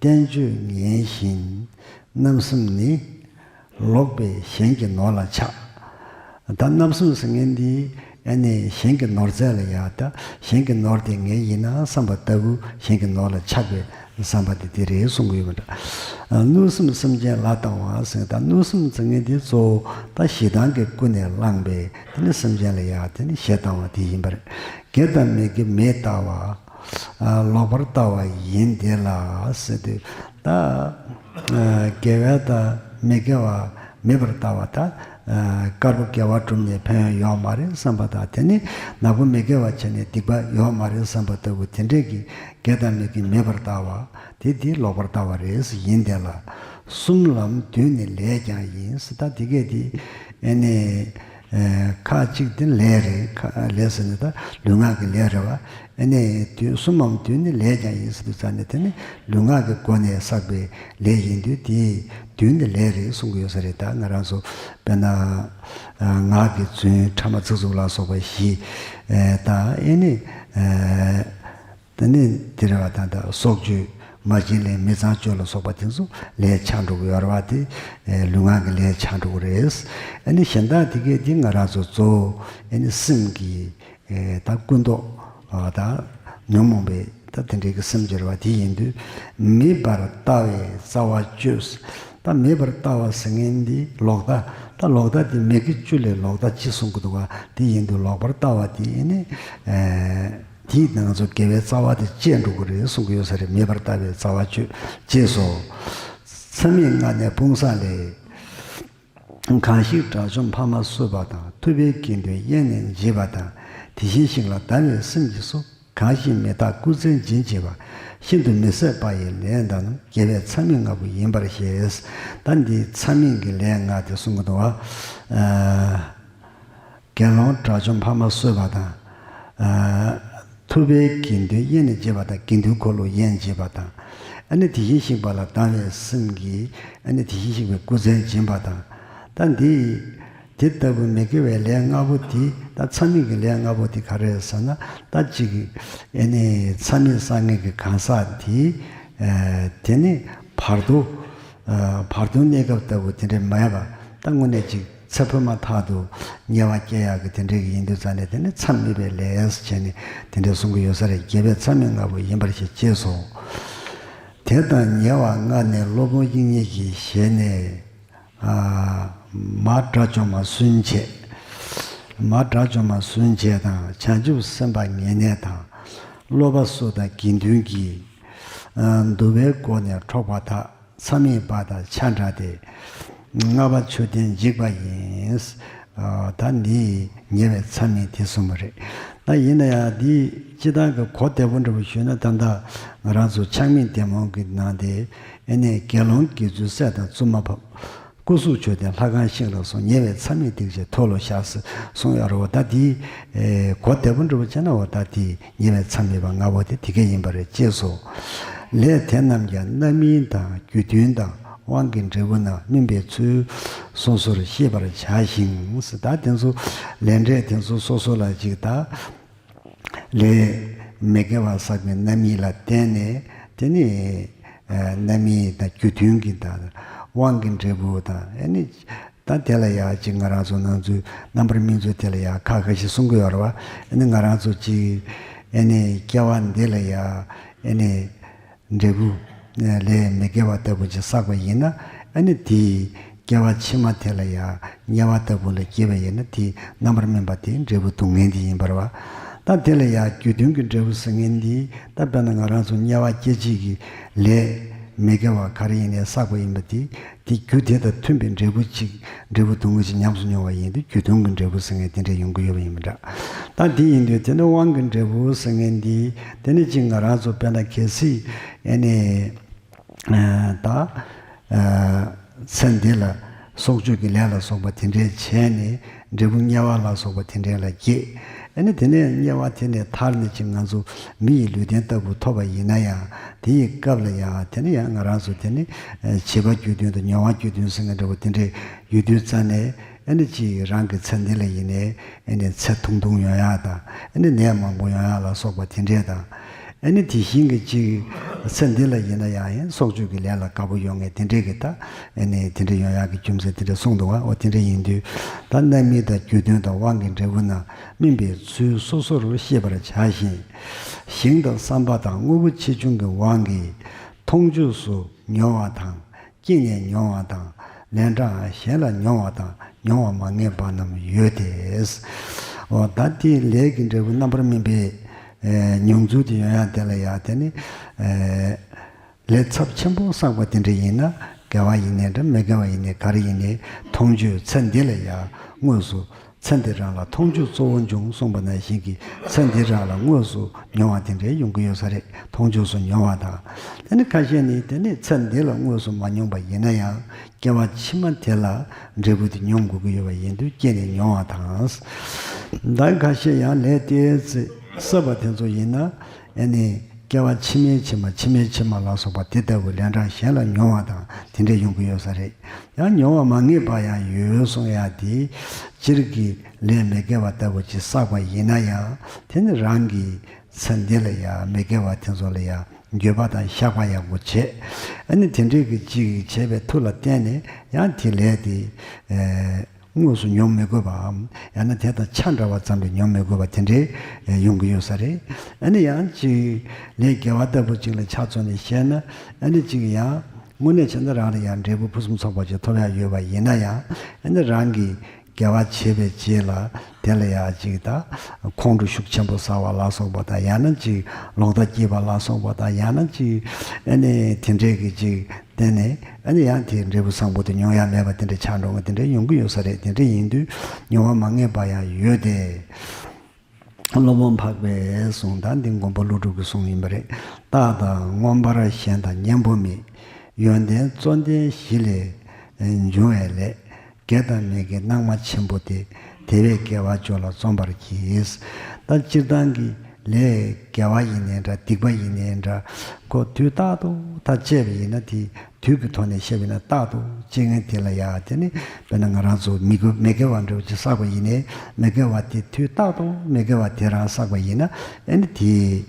བསྟན་བཅོས་ཉན་བཞིན་རྣམ་གསུམ་ནི། ལོག་པའི་གཞན་གྱི་ནོར་ལ་ཆགས། ད་རྣམ་གསུམ་སེམས་ངན་འདི། ཨེ་ནས་གཞན་གྱི་ནོར་རྫས་ལ་ཡ། ད་གཞན་གྱི་ནོར་དེ་ངའི་ཡིན་ན་བསམ་པ་ལྟ་བུ་གཞན་གྱི་ནོར་ལ་ཆགས་པའི་བསམ་པ་འདི་དེ་རེད་གསུང་གི་ཡོད་མ་འདྲ། གནོད་སེམས་སེམས་ཅན་ལ་བཏང་བ་སེང་ད་གནོད་སེམས་ཟེར་ངན་འདི་གཙོ་བོ་ད་ཞེ་སྡང་གི་ཀུན་ནས་བསླངས་པས་དེ་ནི་སེམས་ཅན་ལ་ཡ་དེ་ནི་ཞེ་སྡང་བ་དེ་ཡིན་པ་རེད་དགེ་དང་མི་དགེ་མེད་ལྟ་བ། ལོག་པར་ལྟ་བ་ཡིན་དེ་ལ་སྲིད་དུ་ལྟ། དགེ་བའི་ལྟ་མི་དགེ་བ་མེད་པར་ལྟ་བ་དག། དཀར་པོ་དགེ་བ་བསྒྲུབས་ནས་ཕན་ཡོང་མ་རེད་བསམ་པ་དང་དེ་ནི་ནག་པོ་མི་དགེ་བ་བྱས་ནས་སྡིག་པ་ཡོང་མ་རེད་བསམ་པ་ལྟ་བུ་དེ་འདྲས་ཀྱི་དགེ་དང་མི་དགེ་མེད་པར་ལྟ་བ་དེ་དེ་ལོག་པར་ལྟ་བ་རེད་ཡིན་དེ་ལ། གསུམ་ལམ་བདུན་ནི་ལས་ཀྱང་ཡིན་སྲིད་ལྟ་དེ་སྐད་དེ། ཁ་ཅིག་དེ་ལས་རེད་ཁ་ལས་ཟེར་ནས་ད་ལུས་ངག་གི་ལས་རེད་བ་ཨེ་ནས་དུས་གསུམ་མམ་དུས་ནི་ལས་ཀྱང་ཡིན་སྲིད་དུ་ཙང་ནས་དེ་ནི་ལུས་ངག་གི་སྒོ་ནས་བསགས་པའི་ལས་ཡིན་དུས་དེས་དུས་ནི་ལས་རེད་གསུང་གི་ཡོད་ས་རེད་ད་ང་རང་སུ་དཔེར་ན་ངག་གི་རྫུན་ཕྲ་མ་ཙིག་ཙུག་ལ་སོགས་པ་བཞི་ད་ཨེ་ནས། དེ་ནས་དེ་རེ་བ་དང་དག་སོགས་བརྗོད། མ་བྱིན་ལེན་མི་ཚངས་སྤྱོད་ལ་སོགས་པ་དེ་ཚོ་ལས་ཆགས་འགྲོ་གི་ཡོར་བ་དེ་ལུས་ངག་གི་ལས་ཆགས་འགྲོ་གི་རེད། ཨེ་ནི་གཞན་དག་དེ་སྐད་དེ་ང་རང་ཚོ་གཙོ་བོ་ཨེ་ནི་སེམས་ཀྱི་དག་ཀུན་རྟོག་དང། ཉོན་མོངས་པའི་དག་དེ་འདྲེས་ཀྱི་སེམས་སྦྱོར་བ་དེ་ཡིན་དུས། མེད་པར་ལྟ་བའི་རྩ་བ་གཅོད། དག་མེད་པར་ལྟ་བ་ཟེར་ངན་དེ་ལོག་ལྟ། དག་ལོག་ལྟ་དེ་མེད་ཀྱི་བཅུ་ལས་ལོག་ལྟ་གཅིག་གསུང་གི་འདུག་ག་དེ་ཡིན་དུས་ལོག་པར་ལྟ་བ་དེ་ཨེ་ནི། དེའི་ནང་ཚོ་དགེ་བའི་རྩ་བ་དེ་བཅད་འགྲོ་གི་རེད་གསུང་གི་ཡོད་ས་རེད་མེད་པར་ལྟ་བའི་རྩ་བ་གཅོད་ཅེས་སོ། མཚན་མེད་ལྔ་ནས་དཔུང་བསགས་ལས། གང་ཞིག་དགྲ་བཅོམ་ཕ་མ་གསོད་པ་དང་ཐུབ་པའི་དགེ་འདུན་གཡས་ནས་འབྱེད་པ་དང་དེ་བཞིན་ཞིང་ལ་བདའ་བའི་སེམས་ཀྱིས་སོ། གང་ཞིག་མི་རྟག་སྐུ་ཚེ་འབྱིན་བྱེད་པ། ཤིན་ཏུ་མི་བཟད་པ་ཡི་ལས་འདའ་ནི་དགེ་བའི་མཚན་མེད་ལྔ་པོ་ཡིན་པར་བཞེད། ད་འདིའི་མཚན་མེད་ཀྱི་ལས་ལྔ་དེ་གསུང་གི་འདུག་བ། དགེ་སློང་དགྲ་བཅོམ་འཕགས་མ་གསོལ་བ་དང། ཐུབ་པའི་དགེ་འདུན་དབྱེན་ནི་འབྱེད་པ་དང་དགེ་འདུན་འཁོར་ལོ་དབྱེན་འབྱེད་པ་དང། དེ་བཞིན་གཤེགས་པ་ལ་སྡང་བའི་སེམས་ཀྱིས་དེ་བཞིན་གཤེགས་པའི་སྐུ་ཚན་འབྱིན་པ་དང། ད་འདི། དེ་ལྟ་བུ་མི་དགེ་བའི་ལས་ལྔ་པོ་འདི། ད་མཚམས་མེད་ཀྱི་ལས་ལྔ་པོ་འདི་ག་རེ་ཟ་ན་ད་གཅིག། མཚམས་མེད་གསང་གནས་ཀྱི་གང་ཟག་འདི། དེ་ནི་བར་དོ། བར་དོའི་གནས་སྐབས་ལྟ་བུ་དེ་འདྲ་མེད་པ་ད་དངོས་གནས་གཅིག། ཚེ་འཕོས་མ་ཐག་ཏུ་ཉེ་བར་སྐྱེས་ཡག་གི་དེ་འདྲས་ཀྱི་ཡིན་དུས་ཙང་ནས་དེ་ནི་མཚམས་རྨིས་པའི་ལས་བྱས་ནས་དེ་འདྲས་གསུང་གི་ཡོད་ས་རེད་རྒྱལ་བས་མཚམས་རྨིས་ལྔ་པོ་ཡིན་པར་ཞིག་གཅེས་སོ། དེ་དང་ཉེ་བར་ལྔ་ནས་སློབ་དཔོན་གྱིས་གཉིས་ཀྱི་ཞལ་ནས། མ་དགྲ་བཅོམ་མ་སུན་བྱས། མ་དགྲ་བཅོམ་མ་སུན་བྱས་དང་བྱང་ཆུབ་སེམས་དཔའ་ངེས་གནས་དང། སློབ་པ་སུ་དང་དགེ་འདུན་གྱིས། འདུ་བའི་སྒོ་ནས་འཕྲོག་པ་དག། མཚམས་ཡིན་པ་དང་ཆ་འདྲ་སྟེ། ལྔ་པ་ཆོས་ལྡན་འཇིགས་པ་ཡིན། ད་འདི་ཉེ་བའི་མཚམས་ཡིན་དེ་གསུངས་པ་རེད། ད་ཡིན་ན་ཡང་འདི་སྤྱི་བཏང་གི་གོ་བདེ་པོ་འདྲ་བོ་ཞུས་ན་དམ་དག་ང་རང་ཚོ་ཆགས་མེད་བདེ་མོང་གི་ནང་དེ་ཨེ་ནས་དགེ་སློང་གི་རྫུན་བསད་དང་རྩུབ་མ་ཕབ། སྐུ་གཟུགས་མཆོད་རྟེན་ལྷ་ཁང་བཞེངས་ལ་སོགས་ཉེ་བའི་མཚམས་མེད་སྡིག་བྱེད་མཐོལ་ལོ་བཤགས། གསུང་ཡ་རོ་བ་ད་དེའི། གོ་བདེ་པོ་འགྲུབ་བོ་ཅན་ན་བ་ད་དེའི་ཉེ་བའི་མཚམས་མེད་པ་ང་བོ་དེ་དེ་སྐད་ཡིན་པ་རེད་ཅེས་སོ། ལས་དེ་རྣམས་ཀྱང་རྣམ་སྨིན་དང་རྒྱུ་མཐུན་དང་དབང་གི་འབྲས་བུ་རྣམས་སྨིན་པའི་ཚུལ། སོ་སོར་ཤེས་པར་བྱ་ཞིང། བདག་དེ་ཚོ། ལས་འབྲས་དེ་ཚོ་སོ་སོ་ལ་ཅིག་བདག། ལས། མི་དགེ་བ་བསགས་པའི་རྣམ་དབྱེ་ལ་བརྟེན་ནས་དེ་ནི། རྣམ་དབྱེ་དང་རྒྱུ་མཐུན་གྱི་དང། དབང་གི་འབྲས་བུ་དང། ཨེ་ནི། ད་དེ་ལ་ཡང་ཅིག་ང་རང་ཚོ་སྣང་ཚུལ་རྣམ་པར་སྨིན་ཚུལ་དེ་ལ་ཡང་ཁ་ཁ་ཞིག་གསུང་གི་ཡོད་རེད་བ། ཨེ་ནི་ང་རང་ཚོ་ཅིག། ཨེ་ནི། སྐྱེ་བ་འདི་ལ་ཡང། ཨེ་ནི། འབྲས་བུ་ལས་མི་དགེ་བ་ལྟ་བུ་ཅིག་བསགས་པ་ཡིན་ན་ཨ་ནི་དེས་སྐྱེ་བ་ཕྱི་མ་དེ་ལ་ཡང་ཉེ་བ་ལྟ་བུ་ལ་སྐྱེ་བས་ཡིན་ན་དེས་རྣམ་པར་སྨིན་པ་དེ་འབྲས་བུ་སྡུག་བསྔལ་འདི་ཡིན་པར་བ་དང་དེ་ལ་ཡང་རྒྱུ་མཐུན་གྱི་འབྲས་བུ་ཟིལ་ངན་འདི་ལྟ་བས་ན་ང་རང་ཚོ་དམྱལ་བ་སྐྱེ་བྱེད་ཀྱི་ལས་མི་དགེ་བ་ག་རེ་ཡིན་ནས་བསགས་པ་ཡིན་པ་དེས་དེ་རྒྱུ་དེ་དང་མཐུན་པའི་འབྲས་བུ་གཅིག་འབྲས་བུ་དུམ་བུ་གཅིག་ཉམས་སུ་མྱོང་བ་ཡིན་དུས་རྒྱུ་དུམ་གྱི་འབྲས་བུ་ཟེར་མཁན་དེ་འདྲ་ཡོང་གི་ཡོད་པ་ཡིན་མི་འདྲ། ད་དེ་ཡིན་དུས་དེ་ནི་དབང་གི་འབྲས་བུ་ཟེར་མཁན་འདི་དེ་ནི་གཅིག་ང་རང་ཚོ་དཔེར་ན་གལ་སྲིད་ཨེ་ནས། ད། ཚེ་འདི་ལ། སྲོག་གཅོད་ཀྱི་ལས་ལ་སོགས་པ་དེ་འདྲས་བྱས་ནས། འབྲས་བུ་དམྱལ་བ་ལ་སོགས་པ་དེ་འདྲེན་ལ་འགྱེད། ནི་དེ་ནས་དམྱལ་བ་དེ་ནས་ཐར་ནི་ཅིག་ང་ཚོ་མི་ཡི་ལུས་རྟེན་ལྟ་བུ་ཐོབ་པ་ཡིན་ན་ཡང་དེ་ཡི་སྐབས་ལ་ཡང་དེ་ནི་ཡང་ང་རང་ཚོ་དེ་ནི་བྱིས་པ་རྒྱུད་དོན་དང་མྱོང་བ་རྒྱུད་དོན་ཟེར་ནི་འདྲ་བོ་དེ་འདྲེ་ཡུལ་དུས་རྩ་ནས་ནི་ཅིག་རང་གི་ཚེ་འདི་ལ་ཡིན་ནས་ནི་ཚེ་ཐུང་ཐུང་ཡོང་ཡག་དང་ནི་ནད་མང་པོ་ཡོང་ཡག་ལ་སོགས་པ་དེ་འདྲེ་དང། ཨ་ནི་དེ་བཞིན་གྱི་ཅིག། ཚེ་འདི་ལ་ཡིན་ན་ཡང་ཡིན་སྲོག་གཅོད་ཀྱི་ལས་ལ་དགའ་བོ་ཡོང་ངེས་དེ་འདྲས་ཀྱི་ད། ཨེ་ནི་དེ་འདྲས་ཡོང་ཡག་གི་རྒྱུ་མཚན་དེ་འདྲས་གསུངས་འདུག་བ་འོ་དེ་འདྲས་ཡིན་དུས། ད་རྣམ་དབྱེ་དང་རྒྱུད་དོན་དང་དབང་གི་འབྲས་བུ་རྣམས་སྨིན་པའི་ཚུལ་སོ་སོར་ཤེས་པར་བྱ་ཞིང། ཞིང་དང་བསམ་པ་དང་དངོས་པོ་ཆེ་ཆུང་གི་དབང་གིས། མཐོང་ཆོས་སུ་མྱོང་བ་དང་སྐྱེས་ནས་མྱོང་བ་དང་ལན་གྲངས་གཞན་ལ་མྱོང་བ་དང་མྱོང་བ་མ་ངེས་པ་རྣམས་ཡོད་དེ། འོ་ད་དེའི་ལས་ཀྱི་འབྲས་བུ་རྣམ་པར་སྨིན་པའི་མྱོང་ཚུལ་དེ་ཡོན་ཡང་དེ་ལ་ཡང་དེ་ནི། ལས་ཚབས་ཆེན་པོ་བསགས་པ་དེ་འདྲ་ཡིན་ན་དགེ་བ་ཡིན་ནས་འདྲ་མི་དགེ་བ་ཡིན་ནས་ག་རེ་ཡིན་ནས་མཐོང་ཆོས་ཚེ་འདི་ལ་ཡང་དངོས་སུ་ཚེ་འདིར་རང་ལ་མཐོང་ཆོས་གཙོ་བོ་འབྱུང་གསུངས་པ་ནང་བཞིན་གྱི་ཚེ་འདིར་རང་ལ་དངོས་སུ་མྱོང་བ་དེ་འདྲའི་ཡོང་གི་ཡོད་ས་རེད་མཐོང་ཆོས་སུ་མྱོང་བ་དང། དེ་ནི་ཁ་ཤས་ནི་དེ་ནས་ཚེ་འདི་ལ་དངོས་སུ་མ་མྱོང་པ་ཡིན་ན་ཡང་སྐྱེ་བ་ཕྱི་མ་དེ་ལ་འབྲས་བུ་དེ་མྱོང་དགོས་ཀྱི་ཡོད་པ་ཡིན་དུས་སྐྱེས་ནས་མྱོང་བ་དང། བདག་གི་ཁ་ཤས་ཡང་ལས་དེའི་ཚེ་བསགས་པ་དེ་ཚོ་ཡིན་ན། ལན་ནི། སྐྱེ་བ་ཕྱི་མའི་ཕྱི་མ་ཕྱི་མའི་ཕྱི་མ་ལ་སོགས་པ་དེ་ལྟ་བུའི་ལན་གྲངས་གཞན་ལ་མྱོང་བ་དང་དེ་འདྲས་ཡོང་གི་ཡོད་ས་རེད། ཡང་མྱོང་བ་མ་ངེས་པ་ཡང་ཡོད་གསུངས་ཡ་དེ། སྤྱིར་གྱི་ལན་མི་དགེ་བ་ལྟ་བུ་གཅིག་བསགས་པ་ཡིན་ན་ཡང་དེ་ནི་རང་གི། ཚེ་འདི་ལ་ཡང་མི་དགེ་བ་དེ་ཚོ་ལ་ཡང་འགྱོད་པ་དང་བཤགས་པ་ཡག་པོ་བྱེད། ཨ་ནི་དེ་འདྲས་ཀྱི་གཅིག་བྱས་པའི་མཐུ་ལ་བརྟེན་ནས་ཡང་དེ་ལས་དེ། དངོས་སུ་མྱོང་མི་དགོས་པའམ་ཡང་ན་དེ་དང་ཆ་འདྲ་བ་ཙམ་རེ་མྱོང་མི་དགོས་པ་དེ་འདྲའི་ལས་ཡོང་གི་ཡོད་ས་རེད། ཨ་ནི་ཡང་ཅིག། ལས་དགེ་བ་ལྟ་བུ་ཅིག་ལ་ཆ་མཚོན་ནས་བཤད་ན། ཨ་ནི་ཅིག་ཡང། དངོས་གནས་བྱས་ན་རང་ལ་ཡང་འབྲས་བུ་ཕུན་སུམ་ཚོགས་པ་ཅིག་ཐོབ་ཡག་ཡོད་པ་ཡིན་ན་ཡང། ཨ་ནི་རང་གིས་དགེ་བ་བྱས་པའི་རྗེས་ལ་དེ་ལ་ཡང་ཅིག་ད། ཁོང་ཁྲོ་ཤུགས་ཆེན་པོ་ཟ་བ་ལ་སོགས་པ་དང་ཡང་ན་ཅིག་ལོག་ལྟ་སྐྱེས་པ་ལ་སོགས་པ་དང་ཡང་ན་ཅིག། ཨ་ནི་དེ་འདྲས་ཀྱི་ཅིག་བརྟེན་ནས། ཨ་ནི་ཡང་དེའི་འབྲས་བུ་བཟང་པོ་དེ་མྱོང་ཡ་མེད་པ་དེ་འདྲའི་ཆགས་འགྲོ་འགའ་དེ་འདྲའི་མྱོང་གི་ཡོད་ས་རེད་དེ་འདྲའི་ཡིན་དུས་མྱོང་བ་མ་ངེས་པ་ཡང་ཡོད་དེ། སློབ་དཔོན་འཕགས་པའི་གསུང་དང་འདི་མགོན་པོ་ཀླུ་སྒྲུབ་ཀྱི་གསུང་ཡིན་པ་རེད། རྟགས་དང་མངོན་པར་ཞེན་དང་གཉེན་པོ་མེད། ཡོན་ཏན་གཙོ་འདྲེན་བཞི་ལས་འབྱུང་བའི་ལས། བགེགས་དང་ནད་ཀྱི་སྔགས་མ་ཆེན་པོ་སྟེ་དེ་བས་དགེ་བ་སྦྱོར་ལ་རྩོམ་པར་གྱིས། ད་སྤྱིར་བཏང་གི་ལས་དགེ་བ་ཡིན་ནའི་འདྲ་སྡིག་པ་ཡིན་ནའི་འདྲ། ཁོ་དུས་རྟག་ཏུ་ད་དཔྱད་པ་ཡིན་ན་དེ་དུས་ཀྱི་ཐོག་ནས་བཤད་པ་ཡིན་ན་རྟག་ཏུ་དཔྱད་ངེས་དེ་ལ་ཡང་དེ་ནི་དཔེར་ན་ང་རང་ཚོ་མི་དགེ་མི་དགེ་བ་འབྲས་བུ་ཅིག་བསགས་པ་ཡིན་ནའི་མི་དགེ་བ་དེ་དུས་རྟག་ཏུ་མི་དགེ་བ་དེ་རང་བསགས་པ་ཡིན་ན་ཨེ་ནི་དེས་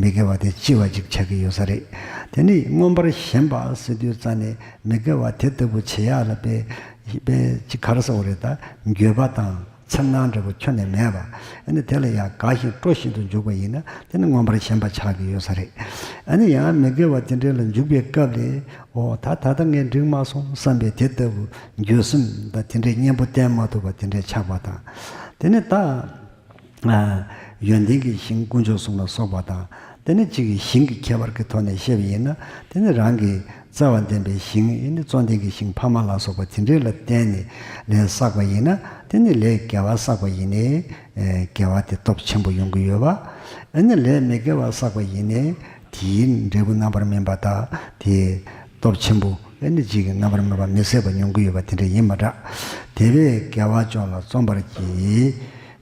མི་དགེ་བ་དེ་ལྕི་བ་ཅིག་ཆགས་ཀྱི་ཡོད་ས་རེད། དེ་ནི་མངོན་པར་ཞེན་པ་སེ་དུས་རྩ་ནས། མི་དགེ་བ་དེ་ལྟ་བུ་བྱེད་ཡག་ལ་དཔེ། དཔེ། ཅི་གར་སོགས་རེད་ད། འགྱོད་པ་དང། འཚེར་སྣང་འདྲ་བོ་ཁྱོན་ནས་མེད་པ། ཨ་ནི་དེ་ལ་ཡང་དགའ་ཞིང་སྤྲོ་བཞིན་དུ་འཇུག་པ་ཡིན་ན་དེ་ནི་མངོན་པར་ཞེན་པ་ཆགས་ཀྱི་ཡོད་ས་རེད། ཨ་ནི་ཡང་མི་དགེ་བ་དེ་འདྲའི་ལ་འཇུག་པའི་སྐབས་ལས། འོ་ད་ད་ལྟ་ངས་འགྲིག་མ་སོང་བསམ་པའི་དེ་ལྟ་བུ། འགྱོད་སེམས། དེ་འདྲའི་གཉེན་པོ་བསྟེན་མ་ཐུབ་པ་དེ་འདྲའི་ཆགས་པ་དང། དེ་ནི་ད། ཡོན་ཏན་གྱི་ཞིང་དཀོན་མཆོག་གསུམ་ལ་སོགས་པ་དང། དེ་ནི་གཅིག་གི་ཞིང་གི་ཁྱད་པར་གྱི་ཐོག་ནས་བཤད་པ་ཡིན་ན་དེ་ནི་རང་གི་རྩ་བ་འདྲེན་པའི་ཞིང་ཡེ་ནས་གཙོ་འདྲེན་གྱི་ཞིང་ཕ་མ་ལ་སོགས་པ་དེ་འདྲའི་ལ་བརྟེན་ནས་ལས་བསགས་པ་ཡིན་ན་དེ་ནི་ལས་དགེ་བ་བསགས་པ་ཡིན། དགེ་བ་དེ་སྟོབས་ཆེན་པོ་ཡོང་གི་ཡོད། ཡེ་ནས་ལས་མི་དགེ་བ་བསགས་པ་ཡིན། དེའི་འབྲས་བུ་རྣམ་པར་སྨིན་པ་དག་དེ། སྟོབས་ཆེན་པོ་ཡེ་ནས་གཅིག་གི་རྣམ་པར་སྨིན་པ་མི་ཟད་པ་མྱོང་གི་ཡོད་པ་དེ་འདྲ་ཡིན་མ་གྲགས། དེ་བས་དགེ་བ་ཅོག་ལ་རྩོམ་པར་གྱིས།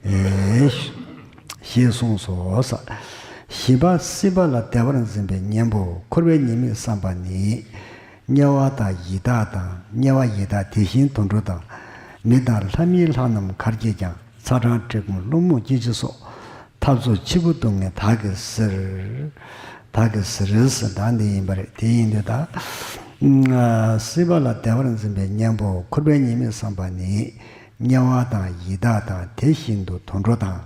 ཞེས་གསུངས་སོ། བཞི་པ་སྲིད་པ་ལ་བདེ་བར་འཛིན་པའི་གཉེན་པོ་འཁོར་བའི་ཉེས་དམིགས་བསམ་པ་ནི། དམྱལ་བ་དང་ཡི་དྭགས་དང་དམྱལ་བ་ཡི་དྭགས་དེ་བཞིན་དུ་འགྲོ་དང། མི་དང་ལྷ་མིའི་ལྷ་རྣམས་གར་སྐྱེས་ཀྱང་ཚ་གྲང་བཀྲེས་སྐོམ་བླུན་རྨོངས་སྐྱེ་འཆི་སོགས། འཐབ་རྩོད་འཆི་འཕོ་སྡུག་བསྔལ་དག་གི་ཟིལ། དག་གི་ཟིལ། དག་འདི་ཡིན་པ་རེད་དེ་ཡིན་དུས་དང། སྲིད་པ་ལ་བདེ་བར་འཛིན་པའི་གཉེན་པོ་འཁོར་བའི་ཉེས་དམིགས་བསམ་པ་ནི། དམྱལ་བ་དང་ཡི་དྭགས་དང་དེ་བཞིན་དུ་དུད་འགྲོ་དང།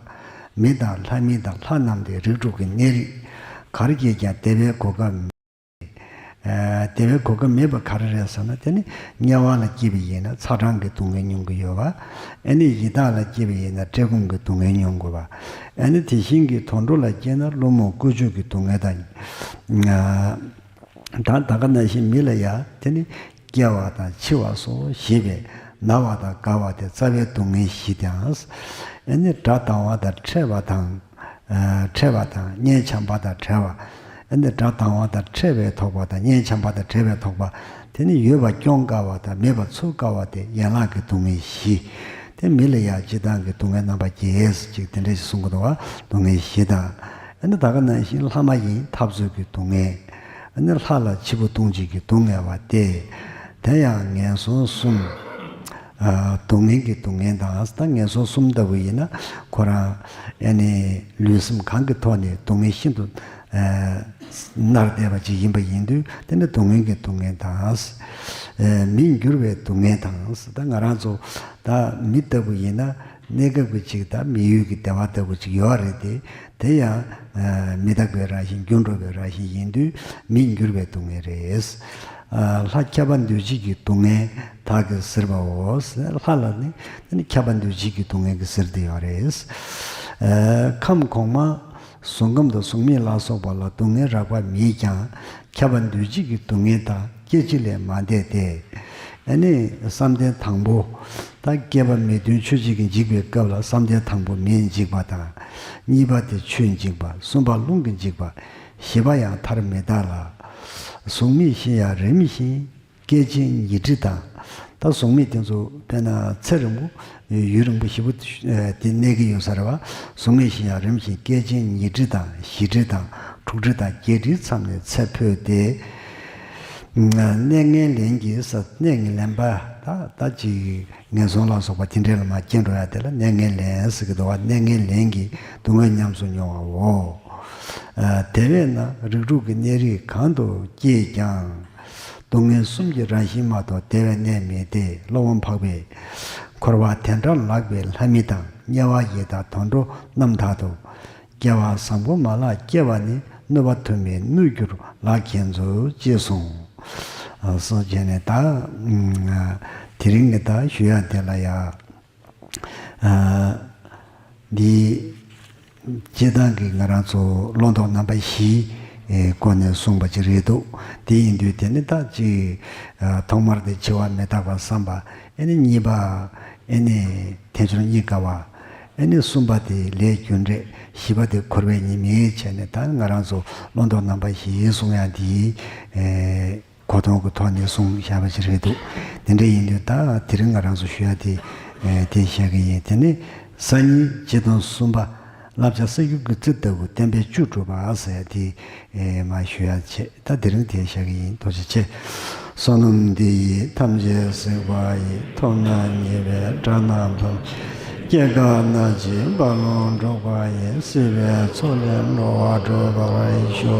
མི་དང་ལྷ་མིན་དང་ལྷ་རྣམས་ཏེ་རིགས་དྲུག་གི་གནས་རིགས། གར་གྱིས་ཀྱང་བདེ་བའི་གོ་སྐབས་མེད། བདེ་བའི་གོ་སྐབས་མེད་པ་ག་རེ་རེད་ཟེར་ན་དེ་ནི་དམྱལ་བ་ལ་སྐྱེས་པ་ཡིན་ན་ཚ་གྲང་གི་སྡུག་བསྔལ་མྱོང་གི་ཡོད། ཨེ་ནི་ཡི་དྭགས་ལ་སྐྱེས་པ་ཡིན་ན་བཀྲེས་སྐོམ་གྱི་སྡུག་བསྔལ་མྱོང་དགོས། ཨེ་ནི་དེ་བཞིན་གྱི་དུད་འགྲོ་ལ་སྐྱེས་ན་བླུན་རྨོངས་ཀུན་སྤྱོད་ཀྱི་སྡུག་བསྔལ་དང། ད་ག་ན་བཞིན་མི་ལ་ཡང་དེ་ནི། སྐྱེ་བ་དང་འཆི་བ་སོགས་ཞེས་པའི་ན་བ་དང་དགའ་བ་སྟེ་རྩ་བའི་སྡུག་བསྔལ་བཞི་དང། ཨེ་ནི་སྒྲ་དང་བ་དང་ཕྲད་པ་དང། ཕྲད་པ་དང་མཉན་བྱམས་པ་དང་བྲལ་བ། ཨེ་ནི་སྒྲ་དང་བ་དང་ཕྲད་པའི་ཐོགས་པ་དང་མཉན་བྱམས་པ་དང་བྲལ་བའི་ཐོགས་པ། དེ་ནི་ཡོད་པ་སྐྱོང་དཀའ་བ་དང་མེད་པ་ཚུར་དཀའ་བ་སྟེ་ཡན་ལག་གི་སྡུག་བསྔལ་བཞི། དེ་མི་ལ་ཡང་ཅི་དང་གི་སྡུག་བསྔལ་རྣམ་པ་བརྒྱད་ཅིག་དེ་འདྲ་ཞིག་གསུངས་གོ་ནི་བ་སྡུག་བསྔལ་བཞི་དང། ཨེ་ནི་ད་ག་ན་ཞིང་ལྷ་མ་ཡིན་འཐབ་རྩོད་ཀྱི་སྡུག་བསྔལ། ནི་ལྷ་ལ་འཆི་འཕོ་ལྟུང་བྱེད་ཀྱི་སྡུག་བསྔལ་བ་སྟེ། དེ་ཡང་ངན་སོང་གསུམ། སྡུག་བསྔལ་གྱི་སྡུག་བསྔལ་དང་ཨ་སྟྭ་ངན་སོང་གསུམ་ལྟ་བུ་ཡིན་ན། ཁོ་རང། ཡང་ནི། ལུས་སེམས་གང་གི་ཐོག་ནས་སྡུག་བསྔལ་ཤིན་ཏུ། མནར་བསྡད་པ་ཅིག་ཡིན་པ་ཡིན་དུས་དེ་ནི་སྡུག་བསྔལ་གྱི་སྡུག་བསྔལ་དང། མི་འགྱུར་བའི་སྡུག་བསྔལ་དང། ད་ང་རང་ཚོ། ད་མི་ལྟ་བུ་ཡིན་ན། གནད་འགག་པའི་ཆེད་ད་མི་ཡུལ་གྱི་བདེ་བ་ལྟ་བུ་ཅིག་ཡོད་རེད་དེ། དེ་ཡང། མི་རྟག་པའི་རང་བཞིན་འགྱུར་འགྲོ་བའི་རང་བཞིན་ཡིན་དུས་མི་འགྱུར་བའི་སྡུག་བསྔལ་རེད། ལྷ་ཁྱབ་པ་འདུལ་བྱེད་ཀྱི་སྡུག་བསྔལ་དག་གི་ཟེར་བའོ། ལྷ་ལ་ནི་ཁྱབ་པ་འདུལ་བྱེད་ཀྱི་སྡུག་བསྔལ་གྱི་ཟེར་དེ་ཡོད་རེད། ཁམས་གོང་མ། གཟུང་ཁམས་དང་གཟུགས་མེད་ལ་སོགས་པ་ལ་སྡུག་བསྔལ་རགས་པ་མེད་ཀྱང། ཁྱབ་པ་འདུས་བྱས་ཀྱི་སྡུག་བསྔལ་དང་སྐྱེ་མཆེད་ལས་མ་འདས་ཏེ། ཨ་ནི། བསམ་གཏན་དང་པོ། ད་སྐྱེ་བ་མི་མཐུན་ཆོས་གཅིག་གིས་འཇིག་པའི་སྐབས་ལ་བསམ་གཏན་དང་པོ་མེས་འཇིག་པ་དང། གཉིས་པ་དེ་ཆུས་འཇིག་པ་གསུམ་པ་རླུང་གིས་འཇིག་པ། བཞི་པ་ཡང་མཐར་མི་རྟག་ལ། གཟུགས་མེད་བཞི་ཡང་རིམ་བཞིན། སྐད་ཆའི་ཉིས་ཁྲི་དང། ད་གཟུགས་མེད་དེ་ཚོ་བས་ན་ཚེ་རིང་པོ། ཡུན་རིང་པོ་བཞི་པོ་དེ་གནས་ཀྱི་ཡོད་ས་རེད་བ། གཟུགས་མེད་ཞིག་ཡང་རིམ་བཞིན་སྐད་ཆའི་ཉིས་ཁྲི་དང་བཞི་ཁྲི་དང་དྲུག་ཁྲི་དང་བརྒྱད་ཁྲིའི་མཚམས་ནས་ཚད་འཕོས་ཏེ། གནས་ངན་ལེན་གྱི་ས་གནས་ངན་ལེན་པ། ད་ཅིག་ངན་སོང་ལ་སོགས་པ་དེ་འདྲས་ལ་མ་སྐྱེས་འགྲོ་ཡ་དེ་ལ་གནས་ངན་ལེན་ཟེར་གི་འདུག་བ་གནས་ངན་ལེན་གྱི་སྡུག་བསྔལ་ཉམས་སུ་མྱོང་བའོ། དེ་བས་ན་རིགས་དྲུག་གི་གནས་རིས་གང་དུ་སྐྱེས་ཀྱང། སྡུག་བསྔལ་གསུམ་གྱི་རང་བཞིན་མ་གཏོགས་བདེ་བའི་གནས་མེད་དེ་བློ་དབང་འཕགས་པས། འཁོར་བ་དེ་འདྲ་ལགས་པས་ལྷ་མི་དང་དམྱལ་བ་ཡི་དྭགས་དོན་འགྲོ་རྣམས་དག་ཏུ། རྒྱལ་བ་བཟང་པོ་མ་ལགས་སྐྱེ་བ་ནི་གནོད་པ་དུ་མས་གནོད་གྱུར་ལགས་མཁྱེན་ཚུལ་ཅེས་གསུངས་སོ། བྱས་ནས་བདག། དེ་རིང་གི་བདག་ཞུ་ཡག་དེ་ལ་ཡག། འདི། སྤྱིར་བཏང་གི་ང་རང་ཚོ་བློ་ལྡོག་རྣམ་པ་བཞིའི་སྐོར་ནས་གསུངས་པ་ཅིག་རེད་འདུག་དེ་ཡིན་དུས་དེ་ནི་རྟགས་གཅིག། ཐོག་མར་དེ་འཆི་བ་མི་རྟག་པར་བསམ་པ། ཨེ་ནི་གཉིས་པ། ཨེ་ནི། ཐལ་སྦྱོར་རྙེད་དཀའ་བ། ཨེ་ནི་གསུམ་པ་དེ་ལས་རྒྱུ་འབྲས་བཞི་པ་དེ་འཁོར་བའི་ཉེས་དམིགས་བྱས་ནས་ད་ནི་ང་རང་ཚོ་བློ་ལྡོག་རྣམ་པ་བཞིའི་གསུང་དབྱངས་འདིའི། གོ་མཐོང་གི་ཐོག་ནས་གསུང་བཞག་པ་ཞིག་རེད་འདུག་དེ་འདྲ་ཡིན་དུས་ད་དེ་རིང་ང་རང་ཚོ་ཞུ་ཡ་དེ་དེ་བཞག་གི་ཡིན་དེ་ནི་གསར་རྙིང་སྤྱི་དང་གསུམ་པ། བསླབ་བྱ་གསར་འགྱུར་གྱི་རྩིབས་ལྟ་བུ་བསྟན་པའི་བཅུ་དྲུག་པ་ཟེར་ཡ་དེ་མ་ཞུ་ཡ་བྱེད་ད་དེ་རིང་དེ་བཞག་གི་ཡིན་ཐུགས་རྗེ་ཆེ། བསོད་ནམས་འདི་ཡིས་ཐམས་ཅད་གཟིགས་པ་ཡི་ཐོབ་ན་ཉེས་པའི་དགྲ་རྣམས་དང། སྐྱེ་འགག་སྣ་གཅིག་འབའ་ལོང་འགྲོགས་པ་ཡི་སྲིད་པའི་མཚོ་ལས་སློང་བ་སྒྲོལ་བར་ཞུ།